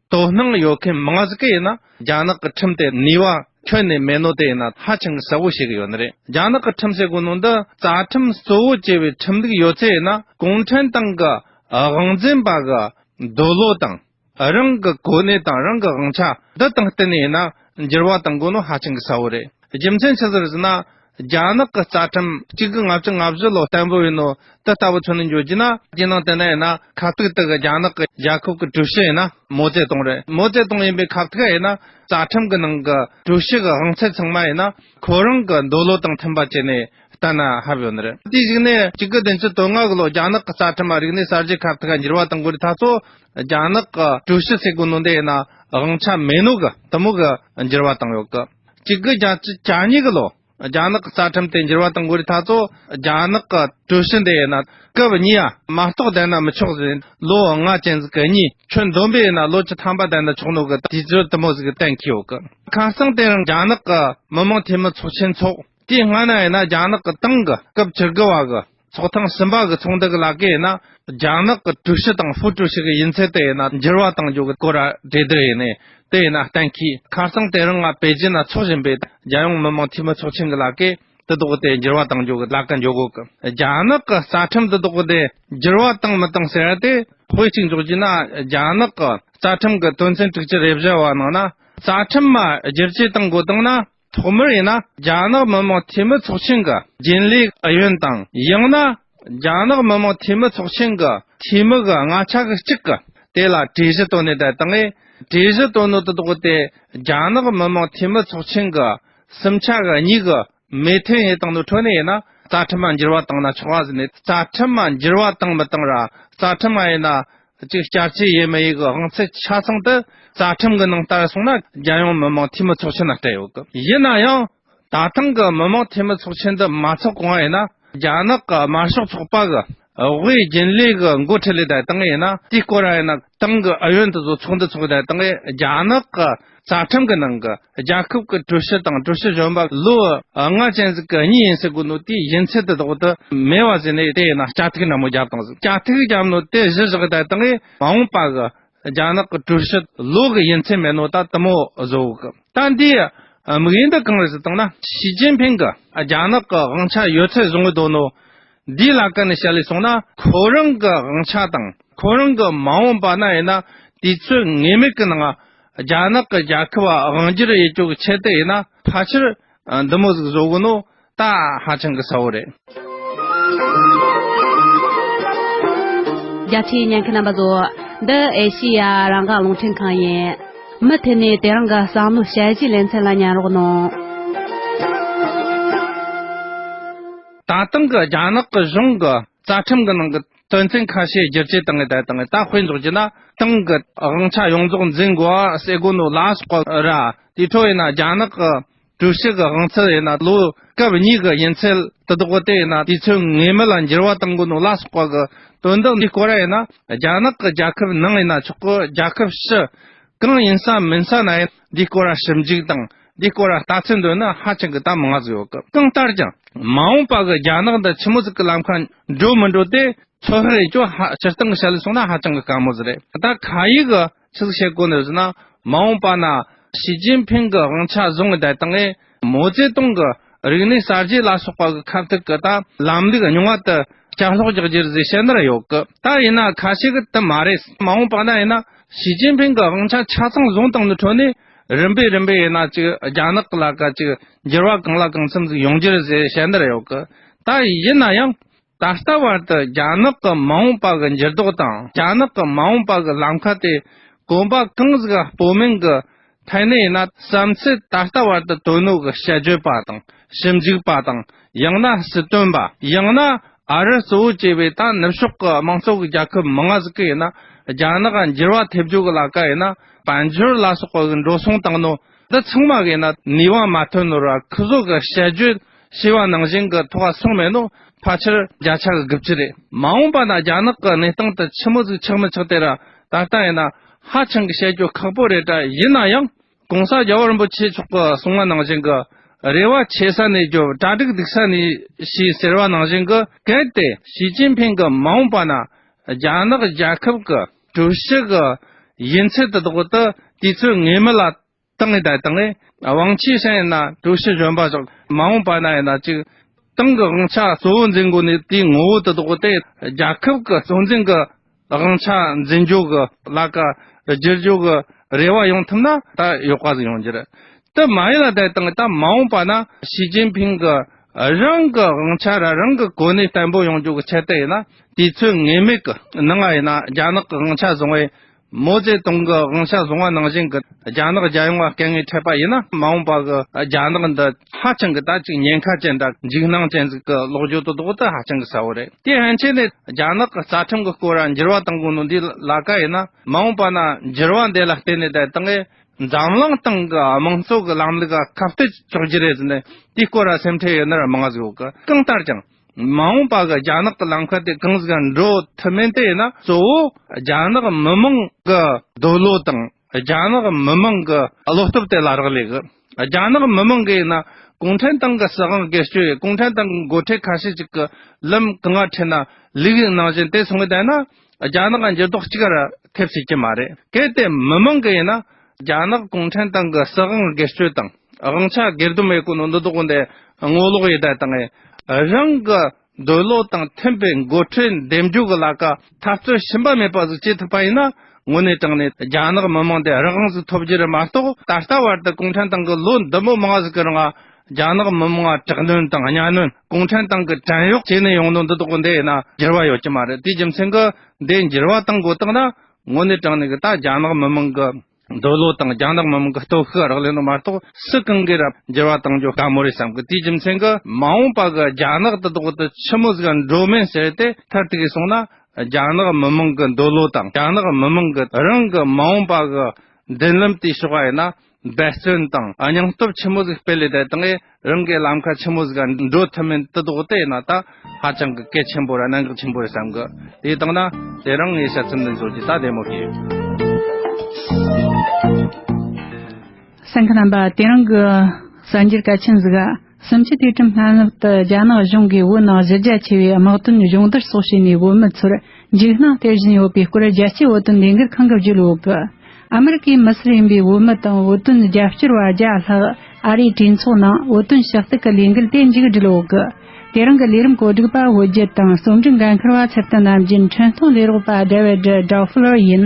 དོ་སྣང་ཡོད་མཁན་མང་གཟུགས་ཀྱི་ཡིན་ན་རྒྱ་ནག་གི་ཁྲིམས་དེ་ནུས་བ་ཁྱོན་ནས་མེད་ནོ་དེ་ཡིན་ན་ཧ་ཅང་གསལ་བོ་ཞིག་ཡོད་ནི་རེད་རྒྱ་ནག་གི་ཁྲིམས་ཟེར་དགོས་ནོ་འདི་རྩ་ཁྲིམས་གཙོ་བོ་བྱས་པའི་ཁྲིམས་ལུགས་ཡོད་ཚད་ཡིན་ན་གུང་ཁྲན་ཏང་གི་དབང་འཛིན་པ་གི་འདོད་བློ་དང་རང་གི་གོ་གནས་དང་རང་གི་དབང་ཆ་འདི་དང་གཏན་ནས་ཡིན་ན་འགྱུར་བ་གཏང་དགོས་ནོ་ཧ་ཅང་གསལ་བོ་རེད་རྒྱུ་མཚན་ཇི་ཟེར་ཟེར་ན་རྒྱ་ནག་གི་རྩ་ཁྲིམས་གཅིག་གི་ལྔ་བཅུ་ལྔ་བཞི་ལོ་བརྟན་པོ་ཡིན་ནོ། དེ་ལྟ་བུ་ཚུན་ནས་འཇོག་རྒྱུ་ན་རྒྱལ་ནང་དེ་འདྲ་ཡིན་ན་ཁག་ཐིག་དེ་གི་རྒྱ་ནག་གི་རྒྱལ་ཁབ་གི་ཀྲུའུ་ཞི་ཡིན་ན་མོ་ཙེ་ཏུང་རེད་མོ་ཙེ་ཏུང་ཡིན་པའི་ཁག་ཐིག་ཡིན་ན་རྩ་ཁྲིམས་གི་ནང་གི་ཀྲུའུ་ཞི་གི་དབང་ཚད་ཚང་མ་ཡིན་ན་ཁོ་རང་གི་འདོད་བློ་དང་མཐུན་པ་བྱས་ནས་ལྟ་ན་ཧ་བོ་ཡོད་རེད་དེ་གཞིགས་ནས་གཅིག་གི་བདུན་ཅུ་དོན་ལྔ་གི་ལོ་རྒྱ་ནག་གི་རྩ་ཁྲིམས་མ་རིག་ནས་གསར་བརྗེ་ཁག་ཐིག་འགྱུར་བ་དང་གོ་རེ་ཐག་ཚོ་རྒྱ་ནག་གི་ཀྲུའུ་ཞི་སྲིད་གོ་ནོ་འདེ་ཡིན་ན་དབང་ཆ་མེད་ནོ་གི་དུ་མོ་གི་འགྱུར་བ་དང་ཡོད་གི། གཅིག་གི་རྒྱ་ཆེ་གྱ་གཉིས་ཀྱི་ལོ། རྒྱ་ནག་གི་རྩ་ཁྲིམས་དེ་འགྱུར་བ་དང་འགོ་རི་ཐ་ཚོ་རྒྱ་ནག་གི་གྲོས་གཞི་འདི་ཡིན་ན་སྐབས་གཉིས་ཡ་མ་གཏོགས་ལྡན་ན་མི་ཆོག་ཟེར་ནས་ལོ་ལྔ་ཅན་གྱི་གད་སྙིགས་ཁྱོན་བསྡོམས་པས་ཡིན་ན་ལོ་བཅུ་ཐམ་པ་ལྡན་ན་ཆོག་ནོ་གི་དུས་ཚོད་དུ་མོ་ཟིག་གཏན་འཁེལ་ཡོད་གི། ཁ་སང་དེ་རིང་རྒྱ་ནག་གི་མི་མང་འཐུས་མི་ཚོགས་ཆེན་འཚོགས་དུས་སྔ་ན་ཡིན་ན་རྒྱ་ནག་གི་ཏང་གི་སྐབས་བཅུ་དགུ་བ་གི་ཚོགས་ཐེངས་གསུམ་པ་གི་ཚོགས་འདུ་གི་ལག་ཁྱེར་ཡིན་ན་རྒྱ་ནག་གི་ཀྲུའུ་ཞི་དང་ཧྥུའུ་ཀྲུའུ་ཞི་གི་ཡིན་ཚད་དེ་ཡིན་ན་འགྱུར་བ་གཏང་རྒྱུ་གི་སྐོར་གྲོས་བསྡུར་ཡིན། དེ་ཡིན་ན་གཏན་འཁེལ་ཁ་སང་དེ་རིང་ང་པེ་ཅིན་ན་འཚོགས་བཞིན་པའི་རྒྱལ་ཡོངས་མི་དམངས་འཐུས་མི་ཚོགས་ཆེན་གི་ལག་ཁྱེར་དེ་དག་གི་དེ་འགྱུར་བ་གཏང་རྒྱུ་གི་ལག་ཁྱེར་འཇོག་དགོས་ཀི་རྒྱ་ནག་གི་རྩ་ཁྲིམས་དེ་དག་གི་དེ་འགྱུར་བ་གཏང་མི་གཏང་ཟེར་དེ་དཔེ་གཅིག་འཇོག་རྒྱུ་ཡིན་ན་རྒྱ་ནག་གི་རྩ་ཁྲིམས་གི་དོན་ཚན་དྲུག་ཅུ་རེ་བཞི་བ་ནང་ན་རྩ་ཁྲིམས་བསྒྱུར་བཅོས་གཏང་དགོས་གཏང་ན་ཐོག་མར་ཡིན་ན་རྒྱ་ནག་མི་དམངས་འཐུས་མི་ཚོགས་ཆེན་གྱི་རྒྱུན་ལས་ཨུ་ཡོན་དང་ཡང་ན་རྒྱ་ནག་མི་དམངས་འཐུས་མི་ཚོགས་ཆེན་གྱི་འཐུས་མི་གི་ལྔ་ཆ་གི་གཅིག་གིས་དེ་ལ་གྲོས་གཞི་བཏོན་ནས་དེ་དག་གིས་གྲོས་གཞི་བཏོན་ནོ་དེ་དག་དེ་རྒྱ་ནག་མི་དམངས་འཐུས་མི་ཚོགས་ཆེན་གྱི་གསུམ་ཆ་གི་གཉིས་གི་མོས་མཐུན་ཡིན་དང་ནི་འཕྲོ་ནས་ཡིན་ན་རྩ་ཁྲིམས་མ་འགྱུར་བ་བཏང་ན་ཆོག་གཟིགས་ནས་རྩ་ཁྲིམས་མ་འགྱུར་བ་བཏང་མི་བཏང་ར་རྩ་ཁྲིམས་མ་ཡིན་ན་གཅིག་སྐྱར་སྐྱེས་ཡས་མས་ཡིག་གི་དབང་ཚད་ཆ་ཚང་དུ་རྩ་ཁྲིམས་ཀྱི་ནང་བསྟར་སོང་ན་རྒྱལ་ཡོངས་མི་དམངས་འཐུས་མི་ཚོགས་ཆེན་ལ་སྤྲད་ཡོད་གི་ཡིན་ན་ཡང་ད་ཐེངས་ཀྱི་མི་དམངས་འཐུས་མི་ཚོགས་ཆེན་འདི་མ་འཚོགས་གོང་ཡིན་ན་རྒྱ་ནག་གི་དམར་ཤོག་ཚོགས་པ་གི་དབུས་རྒྱུན་ལས་ཀྱི་མགོ་ཁྲིད་ལས་བསྡད་སྟངས་ཡིན་ན་དེའི་སྐོར་ཡིན་ན་ཏང་གི་ཨུ་ཡོན་དེ་ཚོ་ཚོགས་འདུ་འཚོགས་བསྡད་སྟངས་རྒྱ་ནག་གི། རྩ་ཁྲིམས་ཀྱི་ནང་གི་རྒྱལ་ཁབ་ཀྱི་ཀྲུའུ་ཞི་དང་ཀྲུའུ་ཞི་གཞོན་པ་ལོ་ལྔ་ཅན་ཟིག་གི་གཉིས་ཡིན་ཟེར་དགོས་ནོ་དེའི་ཡིན་ཚད་དེ་དག་དུ་མེད་བ་ཟེར་ནས་དེ་ཡིན་ན་སྐྱ་ཐིག་ནན་མོ་རྒྱབ་དང་ཟེར་སྐྱ་ཐིག་རྒྱབ་ནོ་དེ་གཞི་བཞག་དེ་དག་གིས་མ་འོངས་པ་གི་རྒྱ་ནག་གི་ཀྲུའུ་ཞི་ལོ་གི་ཡིན་ཚད་མེད་ནོ་ད་དུ་མོ་བཟོ་གི་ད་འདིའི་དམིགས་ཡུལ་འདི་གང་རེད་ཟེར་དང་ན་ཞི་ཅིན་ཕིང་གི་རྒྱ་ནག་གི་དབང་ཆ་ཡོད་ཚད་བཟུང་གི་འདུག་ནོ་འདིའི་ལ་ཀ་ནས་བཤད་ལས་སོང་ན་ཁོ་རང་གི་དབང་ཆ་དང་ཁོ་རང་གི་མ་འོངས་པ་ན་ཡིན་ན་དུས་ཚོད་ངེས་མེད་ཀྱི་ནང་རྒྱ་ནག་གི་རྒྱལ་ཁབ་དབང་སྒྱུར་དབྱེ་གཅོག་གི་ཆེད་དུ་ཡིན་ན་ཕལ་ཆེར་འདི་མོ་ཟིག་བཟོ་གི་ནོ་ད་ཧ་ཅང་གི་ས་བོ་རེད། རྒྱ་ཆེའི་ཉན་མཁན་རྣམ་པ་ཚོ། འདི་ཨེ་ཤེ་ཡ་རང་འགག་རླུང་འཕྲིན་ཁང་ཡིན། མུ་མཐུད་ནས་དེ་རང་གི་བསམ་བློ་དཔྱད་གཞིའི་ལེ་ཚན་ལ་ཉན་རོགས་གནང། ད་དུང་གི་རྒྱ་ནག་གི་གཞུང་གི་རྩ་ཁྲིམས་གི་ནང་གི་དོན་ཚན་ཁ་ཤས་བསྒྱུར་བཅོས་གཏང་གི་དེ་དང་དེ་དཔེ་འཇོག་བགྱིས་ན་ཏང་གི་དབང་ཆ་ཡོངས་རྫོགས་འཛིན་དགོས་པ་གསལ་དགོས་འདུག་ལ་སྐོར་ར་དེའི་འཕྲོ་ཡིན་ན་རྒྱ་ནག་གི་ཀྲུའུ་ཞི་གི་དབང་ཚད་ཡིན་ན་ལོ་སྐབས་གཉིས་ཀྱི་ཡིན་ཚད་དུ་འདུག་གོ་དེ་ཡིན་ན་དུས་ཚོད་ངེས་མེད་ལ་འགྱུར་བ་གཏང་དགོས་འདུག་ལ་སྐོར་གི་དོན་དག་འདི་སྐོར་ར་ཡིན་ན་རྒྱ་ནག་གི་རྒྱལ་ཁབ་ནང་ཡིན་ན་ཆོག་གོ་རྒྱལ་ཁབ་ཕྱི་གང་ཡིན་ས་མིན་ས་ན་ཡིན་འདིའི་སྐོར་ལ་ཞིབ་འཇུག་དང་འདིའི་སྐོར་ལ་ལྟ་ཚུལ་འདོན་ན་ཧ་ཅང་གི་གཏམ་མང་ཟེར་བ་ཀི་གང་ལྟར་ཀྱང་མ་འོངས་པ་གི་རྒྱ་ནག་དང་ཁྱི་མོ་ཟིག་གི་ལམ་ཁ་འགྲོ་མི་འགྲོ་དེ་ཚོ་ཧི་རེ་ཅོ་ཧ་སྤྱིར་བཏང་གི་བྱ་ལས་སོང་ན་ཧ་ཅང་གི་དཀའ་མོ་ཟེར་རེད་ད་ཁ་ཡིག་གི་ཆིག་བཤད་སྐོར་ནས་བཟོས་ན་མ་འོངས་པ་ན་ཞི་ཅིན་ཕིང་གི་དབང་ཆ་བཟུང་ངེས་དེ་དང་ཨེ། མའོ་ཙེ་ཏུང་གི་རིག་གནས་གསར་བརྗེ་ལ་སོགས་པ་གི་ཁ་ཐུག་གི་དང་ལམ་ལུགས་རྙིང་བ་དུ་བསྐྱར་ལྷོག་རྒྱག་རྒྱུར་གཟིགས་ཞེ་འདི་རུ་ཡོད་གི་ད་ཡིན་ན་ཁ་ཤས་ཀྱི་དུ་མ་རེད་མ་འོངས་པ་ན་ཡིན་ན་ཞི་ཅིན་ཕིང་གི་དབང་ཆ་ཆ་ཚང་བཟུང་སྟངས་ནི་ཁྲོ་ནས་རིམ་པས་རིམ་པས་ཡིན་ན་ཅིག་རྒྱ་ནག་གི་ལ་ཀ་ཅིག་འགྱུར་བ་གང་ལ་གང་འཚམ་ཟིག་ཡོང་རྒྱུར་གཟིགས་ཞེ་འདི་རུ་ཡོད་གི་ད་ཡིན་ན་ཡང་ད་ལྟ་བར་དུ་རྒྱ་ནག་གི་མ་འོངས་པ་གི་འགྱུར་ལྡོག་དང་རྒྱ་ནག་གི་མ་འོངས་པ་གི་ལམ་ཁ་དེ་གོམ་པ་གང་ཟིག་ཨ་སྤོ་མིང་གི་ཐད་ནས་ཡིན་ན་བསམ་ཚུལ་ད་ལྟ་བར་དུ་དོ་ནུབ་གི་ཞལ་བརྗོད་པ་དང་ཞིབ་འཇུག་པ་དང་ཡང་ན་སྲིད་དོན་པ་ཡང་ན་ཨ་རི་གཙོ་བོ་བྱས་པའི་ད་ནུབ་ཕྱོགས་གི་དམངས་གཙོ་གི་རྒྱལ་ཁབ་མི་ང་ཟིག་གི་ཡིན་ན་རྒྱ་ནག་གི་འགྱུར་བ་ཐེབས་རྒྱུ་གི་ལ་ཀ་ཡིན་ན་དཔལ་འབྱོར་ལ་སོགས་པ་གི་འགྲོ་སོང་དང་ནོར་འདི་ཚང་མ་གི་ཡིན་ན་ནུས་བ་མ་ཐོན་ནོར་བ་ཁུ་བཟོ་གི་ཞལ་བརྗོད་ཞེས་པ་ནང་བཞིན་གྱི་ཐོག་ཁ་སོང་མེད་ནོ། ཕལ་ཆེར་བརྒྱ་ཆ་གི་དགུ་བཅུ་རེད། མ་འོངས་པ་ན་རྒྱ་ནག་གི་གནས་སྟངས་དེ་ཕྱི་མོ་ཟིག་ཆགས་མི་ཆགས་དེ་ར་ད་ལྟ་ཡིན་ན་ཧ་ཅང་གི་བཤད་རྒྱུ་ཁག་པོ་རེད་གྲ་ཡིན་ན་ཡང་གོང་ས་རྒྱལ་བ་རིན་པོ་ཆེ་མཆོག་གི་གསུང་བ་ནང་བཞིན་གྱི་རེ་བ་ཆེ་ས་ནས་རྒྱུ་གྲ་སྒྲིག་སྡིག་ས་ནས་ཤེས་ཟེར་བ་ནང་བཞིན་གྱི་གལ་ཏེ་ཞི་ཅིན་ཕིན་གྱི་མ་འོངས་པ་ན་རྒྱ་ནག་རྒྱལ་ཁབ་གྱི་གྲུ་བཞི་གྱི་ཡིན་ཚད་དེ་དག་ཏུ་དུས་ཚོད་ངེས་མེད་ལ་ཏང་གི་བདེ་ཐང་ལས་དབང་ཆེ་ཞིང་ཡིན་ན་ཀྲུའུ་ཞི་གཞོན་པ་སོགས་མ་འོངས་པ་ན་ཡིན་ན་ཅིག་ཏང་གི་དབང་ཆ་གཙོ་བོ་འཛིན་དགོས་ནི་དེའི་ངོ་བོ་དེ་དག་སྟེ་རྒྱལ་ཁབ་ཀྱི་གཙོ་འཛིན་གྱི་དབང་ཆ་འཛིན་རྒྱུ་གྱི་ལ་ཀ་བསྒྱུར་རྒྱུ་གྱི་རེ་བ་ཡོང་ཐུབ་ན་ད་ཡོད་པ་ཟིག་ཡོང་རྒྱུ་རེད་དེ་མ་ཡིན་ལ་བདེ་ཐང་གི་ད་མ་འོངས་པ་ན་ཞི་ཅིན་ཕིང་གི་རང་གི་དབང་ཆ་རང་རང་གི་གོ་གནས་བརྟན་པོ་ཡོང་རྒྱུ་གྱི་ཆེད་དུ་ཡིན་ན་དུས་ཚོད་ངེས་མེད་ཀྱི་ནང་ཡིན་ན་རྒྱ་ནག་གི་དབང་ཆ་བཟུང་བའི་མའོ་ཙེ་ཏུང་གི་དབང་ཆ་བཟུང་བ་ནང་བཞིན་གྱི་རྒྱ་ནག་རྒྱལ་ཡོངས་ལ་དཀལ་ངལ་འཕྲད་པ་ཡིན་ན་མ་འོངས་པར་གྱི་རྒྱ་ནག་འདི་ཧ་ཅང་གི་ད་ཅིག་ཉེན་ཁ་ཅན་དང་འཇིགས་སྣང་ཅན་ཟིག་གི་ལོག་འགྱུར་དུ་ལྡོག་དེ་ཧ་ཅང་གི་གསལ་བོ་རེད་དེ་ཧན་ཆེ་ནས་རྒྱ་ནག་གི་རྩ་ཁྲིམས་ཀྱི་སྐོར་ལ་འགྱུར་བ་གཏང་དགོས་ནོ་འདི་ལ་ཀ་ཡིན་ན་མ་འོངས་པ་ན་འགྱུར་བ་འདི་ལ་བརྟེན་ནས་དེ་དག་གིས་འཛམ་གླིང་སྟེང་གི་དམངས་གཙོ་གི་ལམ་ལུགས་ལ་ཁ་བསྟོད་ཆོག་གྱི་རེད་ཟེར་ནས་དེའི་སྐོར་ལ་སེམས་ཁྲལ་ཡོད་ན་མང་གཟུགས་གང་ལྟར་ཀྱང། མ་འོངས་པ་གི་རྒྱ་ནག་གི་ལམ་ཁ་དེ་གང་ཟག་གིས་འགྲོ་ཐུབ་མིན་དེ་ནི་གཙོ་བོ་རྒྱ་ནག་མི་མང་གི་སྡོད་བློ་དང་རྒྱ་ནག་མི་མང་གི་བློ་སྟོབས་དེ་ལ་རག་ལས་གི། རྒྱ་ནག་མི་མང་གིས་ནི་གུང་ཁྲན་ཏང་གི་སྲིད་དབང་སྒེར་སྤྱོད་ཡིས་གུང་ཁྲན་ཏང་གི་མགོ་ཁྲིད་ཁ་ཤས་ཅིག་གི་ལམ་གང་ཡང་ཁྲིད་ན་ལུགས་ཡིན་ནང་བཞིན་དེ་སོང་བས་བསྡད་ན་རྒྱ་ནག་གི་འགྱུར་ལྡོག་གཅིག་ར་ཐེབས་སྲིད་ཀྱི་མ་རེད། གལ་ཏེ་མི་མང་གི་ཡིན་ན། རྒྱ་ནག་གུང་ཁྲན་ཏང་གི་སྲིད་དབང་སྒེར་གཅོད་དང་དབང་ཆ་སྒེར་སྡུམ་ཡོད་ཁུངས་འདི་དག་འདི་ངོ་ལོག་ཡེ་གྲ་དང། རང་གི་འདོད་བློ་དང་མཐུན་པའི་མགོ་ཁྲིད་འདེམས་འཇོག་གི་ལ་ཀ་འཐབ་རྩོད་ཞུམ་པ་མེད་པ་ཟིག་བྱེད་ཐུབ་པ་ཡིན་ན། དངོས་གནས་དྲང་གནས་རྒྱ་ནག་མི་མང་འདི་རང་དབང་ཟིག་ཐོབ་རྒྱུ་རེད་མ་གཏོགས་ད་ལྟ་བར་དུ་གུང་ཁྲན་ཏང་གི་ལོ་འདི་མོ་མང་ཟིག་གི་རང་དབང་རྒྱ་ནག་མི་དམངས་ལ་དྲག་གནོན་དང་གཉའ་གནོན་གུང་ཁྲན་ཏང་གི་བྲན་གཡོག་བྱས་ནས་ཡོང་དོན་འདི་དོགས་འདི་ཡིན་ན་འགྱུར་བ་ཡོད་ཀྱི་མ་རེད་དེའི་རྒྱུ་མཚན་གྱི་འདི་འགྱུར་བ་གཏང་དགོས་དག་ན་དངོས་གནས་དྲང་གནས་ཀྱི་ད་རྒྱ་ནག་མི་དམངས་ཀྱི་འདོད་བློ་དང་རྒྱ་ནག་མི་དམངས་ཀྱི་སྟོབས་ཤུགས་རག་ལས་ན་མ་གཏོགས་སུ་གང་གིས་རབ་འགྱུར་བ་གཏང་རྒྱུ་དཀའ་མོ་རེད་བསམ་གི་དེའི་རྒྱུ་མཚན་གྱི་མ་འོངས་པ་གྱི་རྒྱ་ནག་འདི་དོགས་འདི་ཆི་མོ་ཟིག་འགྲོ་མིན་ཟེར་ཏེ་མཐར་ཐུག་གིས་སོང་ན་རྒྱ་ནག་མི་དམངས་ཀྱི་འདོད་བློ་དང་རྒྱ་ནག་མི་དམངས་ཀྱི་རང་གི་མ་འོངས་པ་གྱི་འདུན་ལམ་དེའི་ཕྱོགས་ཡིན་ན་འབད་བརྩོན་དང་སྙིང་སྟོབས་ཆེན་མོ་ཟིག་སྤེལ་ལས་དེ་དག་གིས་རང་གི་ལམ་ཁ་ཆེན་མོ་ཟིག་འགྲོ་ཐུབ་མིན་དུ་དོགས་དེ་ན་ད་ཧ་ཅང་གི་གལ་ཆེན་པོ་རེད་གནད་འགག་ཆེན་པོ་རེད་བསམ་གི་དེ་དག་ན་དེ་རང་ངས་དཔྱད་རྩོམ་འདི་འབྱོར་རྒྱུ་ད་བདེ་མོ་བྱས། སེམས་ཁ་དམ་པ་དེ་རང་གི་གསར་འགྱུར་གལ་ཆེན་ཟིག། སུམ་ཅུ་དུས་ཁྲིམས་སྔ་སྣུར་དུ་རྒྱ་ནག་གཞུང་གིས་བོད་ནང་གཞི་རྒྱ་ཆེ་བའི་དམག་དོན་གཞུང་བསྡུར་སོགས་བྱས་ནས་བོད་མི་ཚོར་འཇིགས་སྣང་སྟེར་བཞིན་ཡོད་པའི་སྐོར་རྒྱལ་སྤྱིའི་བོད་དོན་ལས་འགུལ་ཁང་གི་བརྒྱུད་འོག་གི་ཨ་མི་རི་ཀའི་མི་སེར་ཡིན་པའི་བོད་མི་དང་བོད་དོན་རྒྱབ་སྐྱོར་བ་བརྒྱ་ལྷག་ཨ་རིའི་གྲོས་ཚོགས་ནང་བོད་དོན་ཕྱག་བཏུག་གི་ལས་འགུལ་དེ་མཇུག་སྒྲིལ་འོག་གི་དེ་རིང་གི་ལས་རིམ་གོ་སྒྲིག་པ་བོད་བརྒྱུད་དང་རྩོམ་སྒྲིག་འགན་འཁུར་བ་ཚེ་བརྟན་ནམ་རྒྱུན་འཕྲིན་སྟོན་ལས་རོགས་པ་བསྒྲལ་བའི་སྒྲི Drawflower ཡིན།